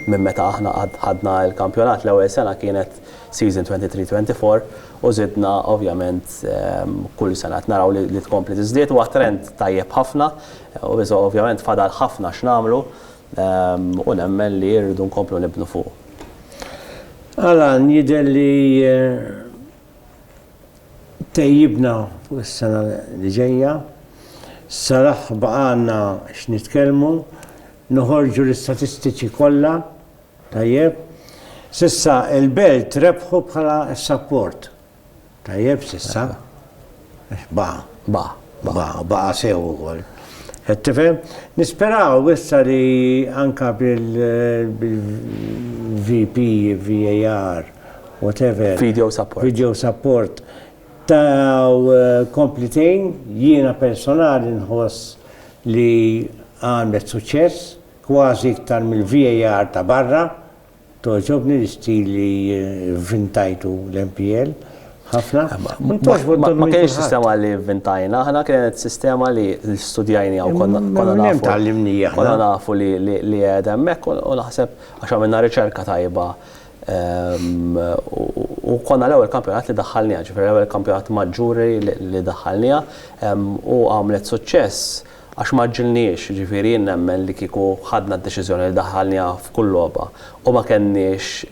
minn meta aħna ħadna l-kampjonat l-ewwel sena kienet season twenty three, twenty four u żidna ovvjament kull sena qed naraw li tkompli tiżdied. Huwa trend tajjeb ħafna. Iżda ovvjament fadal ħafna x'nagħmlu u nemmen li rridu nkomplu nibnu fuqu. Alan, jidher li tejjibna fuq is-sena li ġejja. Salah baqgħalna x'nitkellmu, noħorġu l-istatistiċi kollha, tajjeb. S'issa il-Belt rebħu bħala s-Sapport. Tajjeb s'issa? Għax baqa'. Baqa'. Baqa', u baqa' sew ukoll. Qed tifhem? Nisperaw issa li anke bil-VP, VAR, whatever. Video support. Video support. Taw komplitejn, jiena personali nħoss li għamlet suċċess, kważi iktar mill-VAR ta' barra, Togħġobni l-istil li vvintajtu l-MPL ħafna. Ma kienx sistema li vvintajna aħna, kienet sistema li studjajniha u konna nafu. Minn hemm tgħallimnija aħna. Konna nafu li qiegħda hemmhekk u naħseb għax għamilna riċerka tajba u konna l-ewwel kampjonat li daħħalniha, ġifieri l-ewwel kampjonat maġġuri li daħħalniha u għamlet suċċess Għax ma għaġġilniex, jiġifieri jien nemmen li kieku ħadna d-deċiżjoni li daħħalniha f'kull logħba u ma kenniex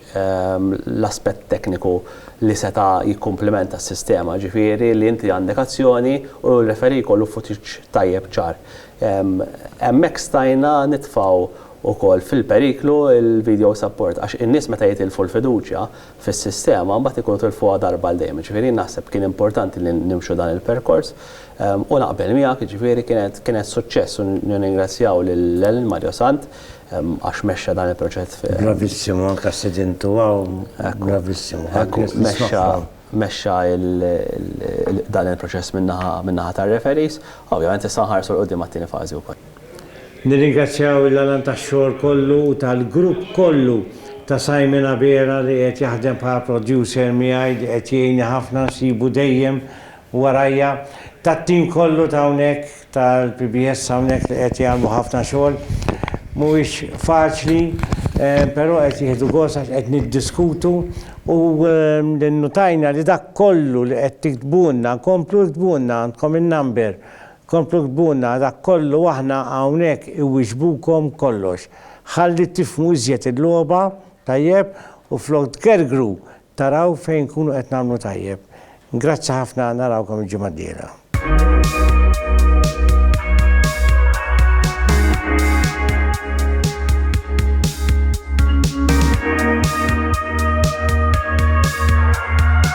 l-aspett tekniku li seta' jikkumplimenta s-sistema, jiġifieri li inti għandek azzjoni u r-referee jkollu footage tajjeb ċar. Hemmhekk stajna nitfgħu wkoll fil-periklu l-video support għax in-nies meta jitilfu l-fiduċja fis-sistema mbagħad ikunu tilfuha darba għal dejjem. Jiġifieri jien naħseb kien importanti li nimxu dan il-perkors u naqbel miegħek, jiġifieri kienet kienet suċċess u nirringrazzjaw lil Ellen Mariosant għax mexxa dan il-proċess fi Bravissimo, anke stedintu hawn, bravissimo. Ekku, mexxa mexxa dan il-proċess min-naħa min-naħa tar-referees. Ovvjament issa nħarsu 'l quddiem għat-tieni fażi wkoll. Nirringrazzjaw lil Alan tax-xogħol kollu u tal-grupp kollu ta' Simon Abela li qiegħed jaħdem bħala producer miegħi li qed jgħinni ħafna nsibu dejjem warajja, tat-tim kollu ta' hawnhekk tal-PBS hawnhekk li qed jagħmlu ħafna xogħol. Mhuwiex faċli però qed jieħdu gost għax qed niddiskutu u nnutajna li dak kollu li qed tiktbulna nkomplu iktbulna għandkom in-number Komplu ktbulna dak kollu aħna hawnhekk iwieġbukom kollox. Ħalli tifhmu iżjed il-logħba tajjeb u flok tgergru taraw fejn nkunu qed nagħmlu tajjeb. Grazzi ħafna narawkom il-ġimgħa d-dieħla.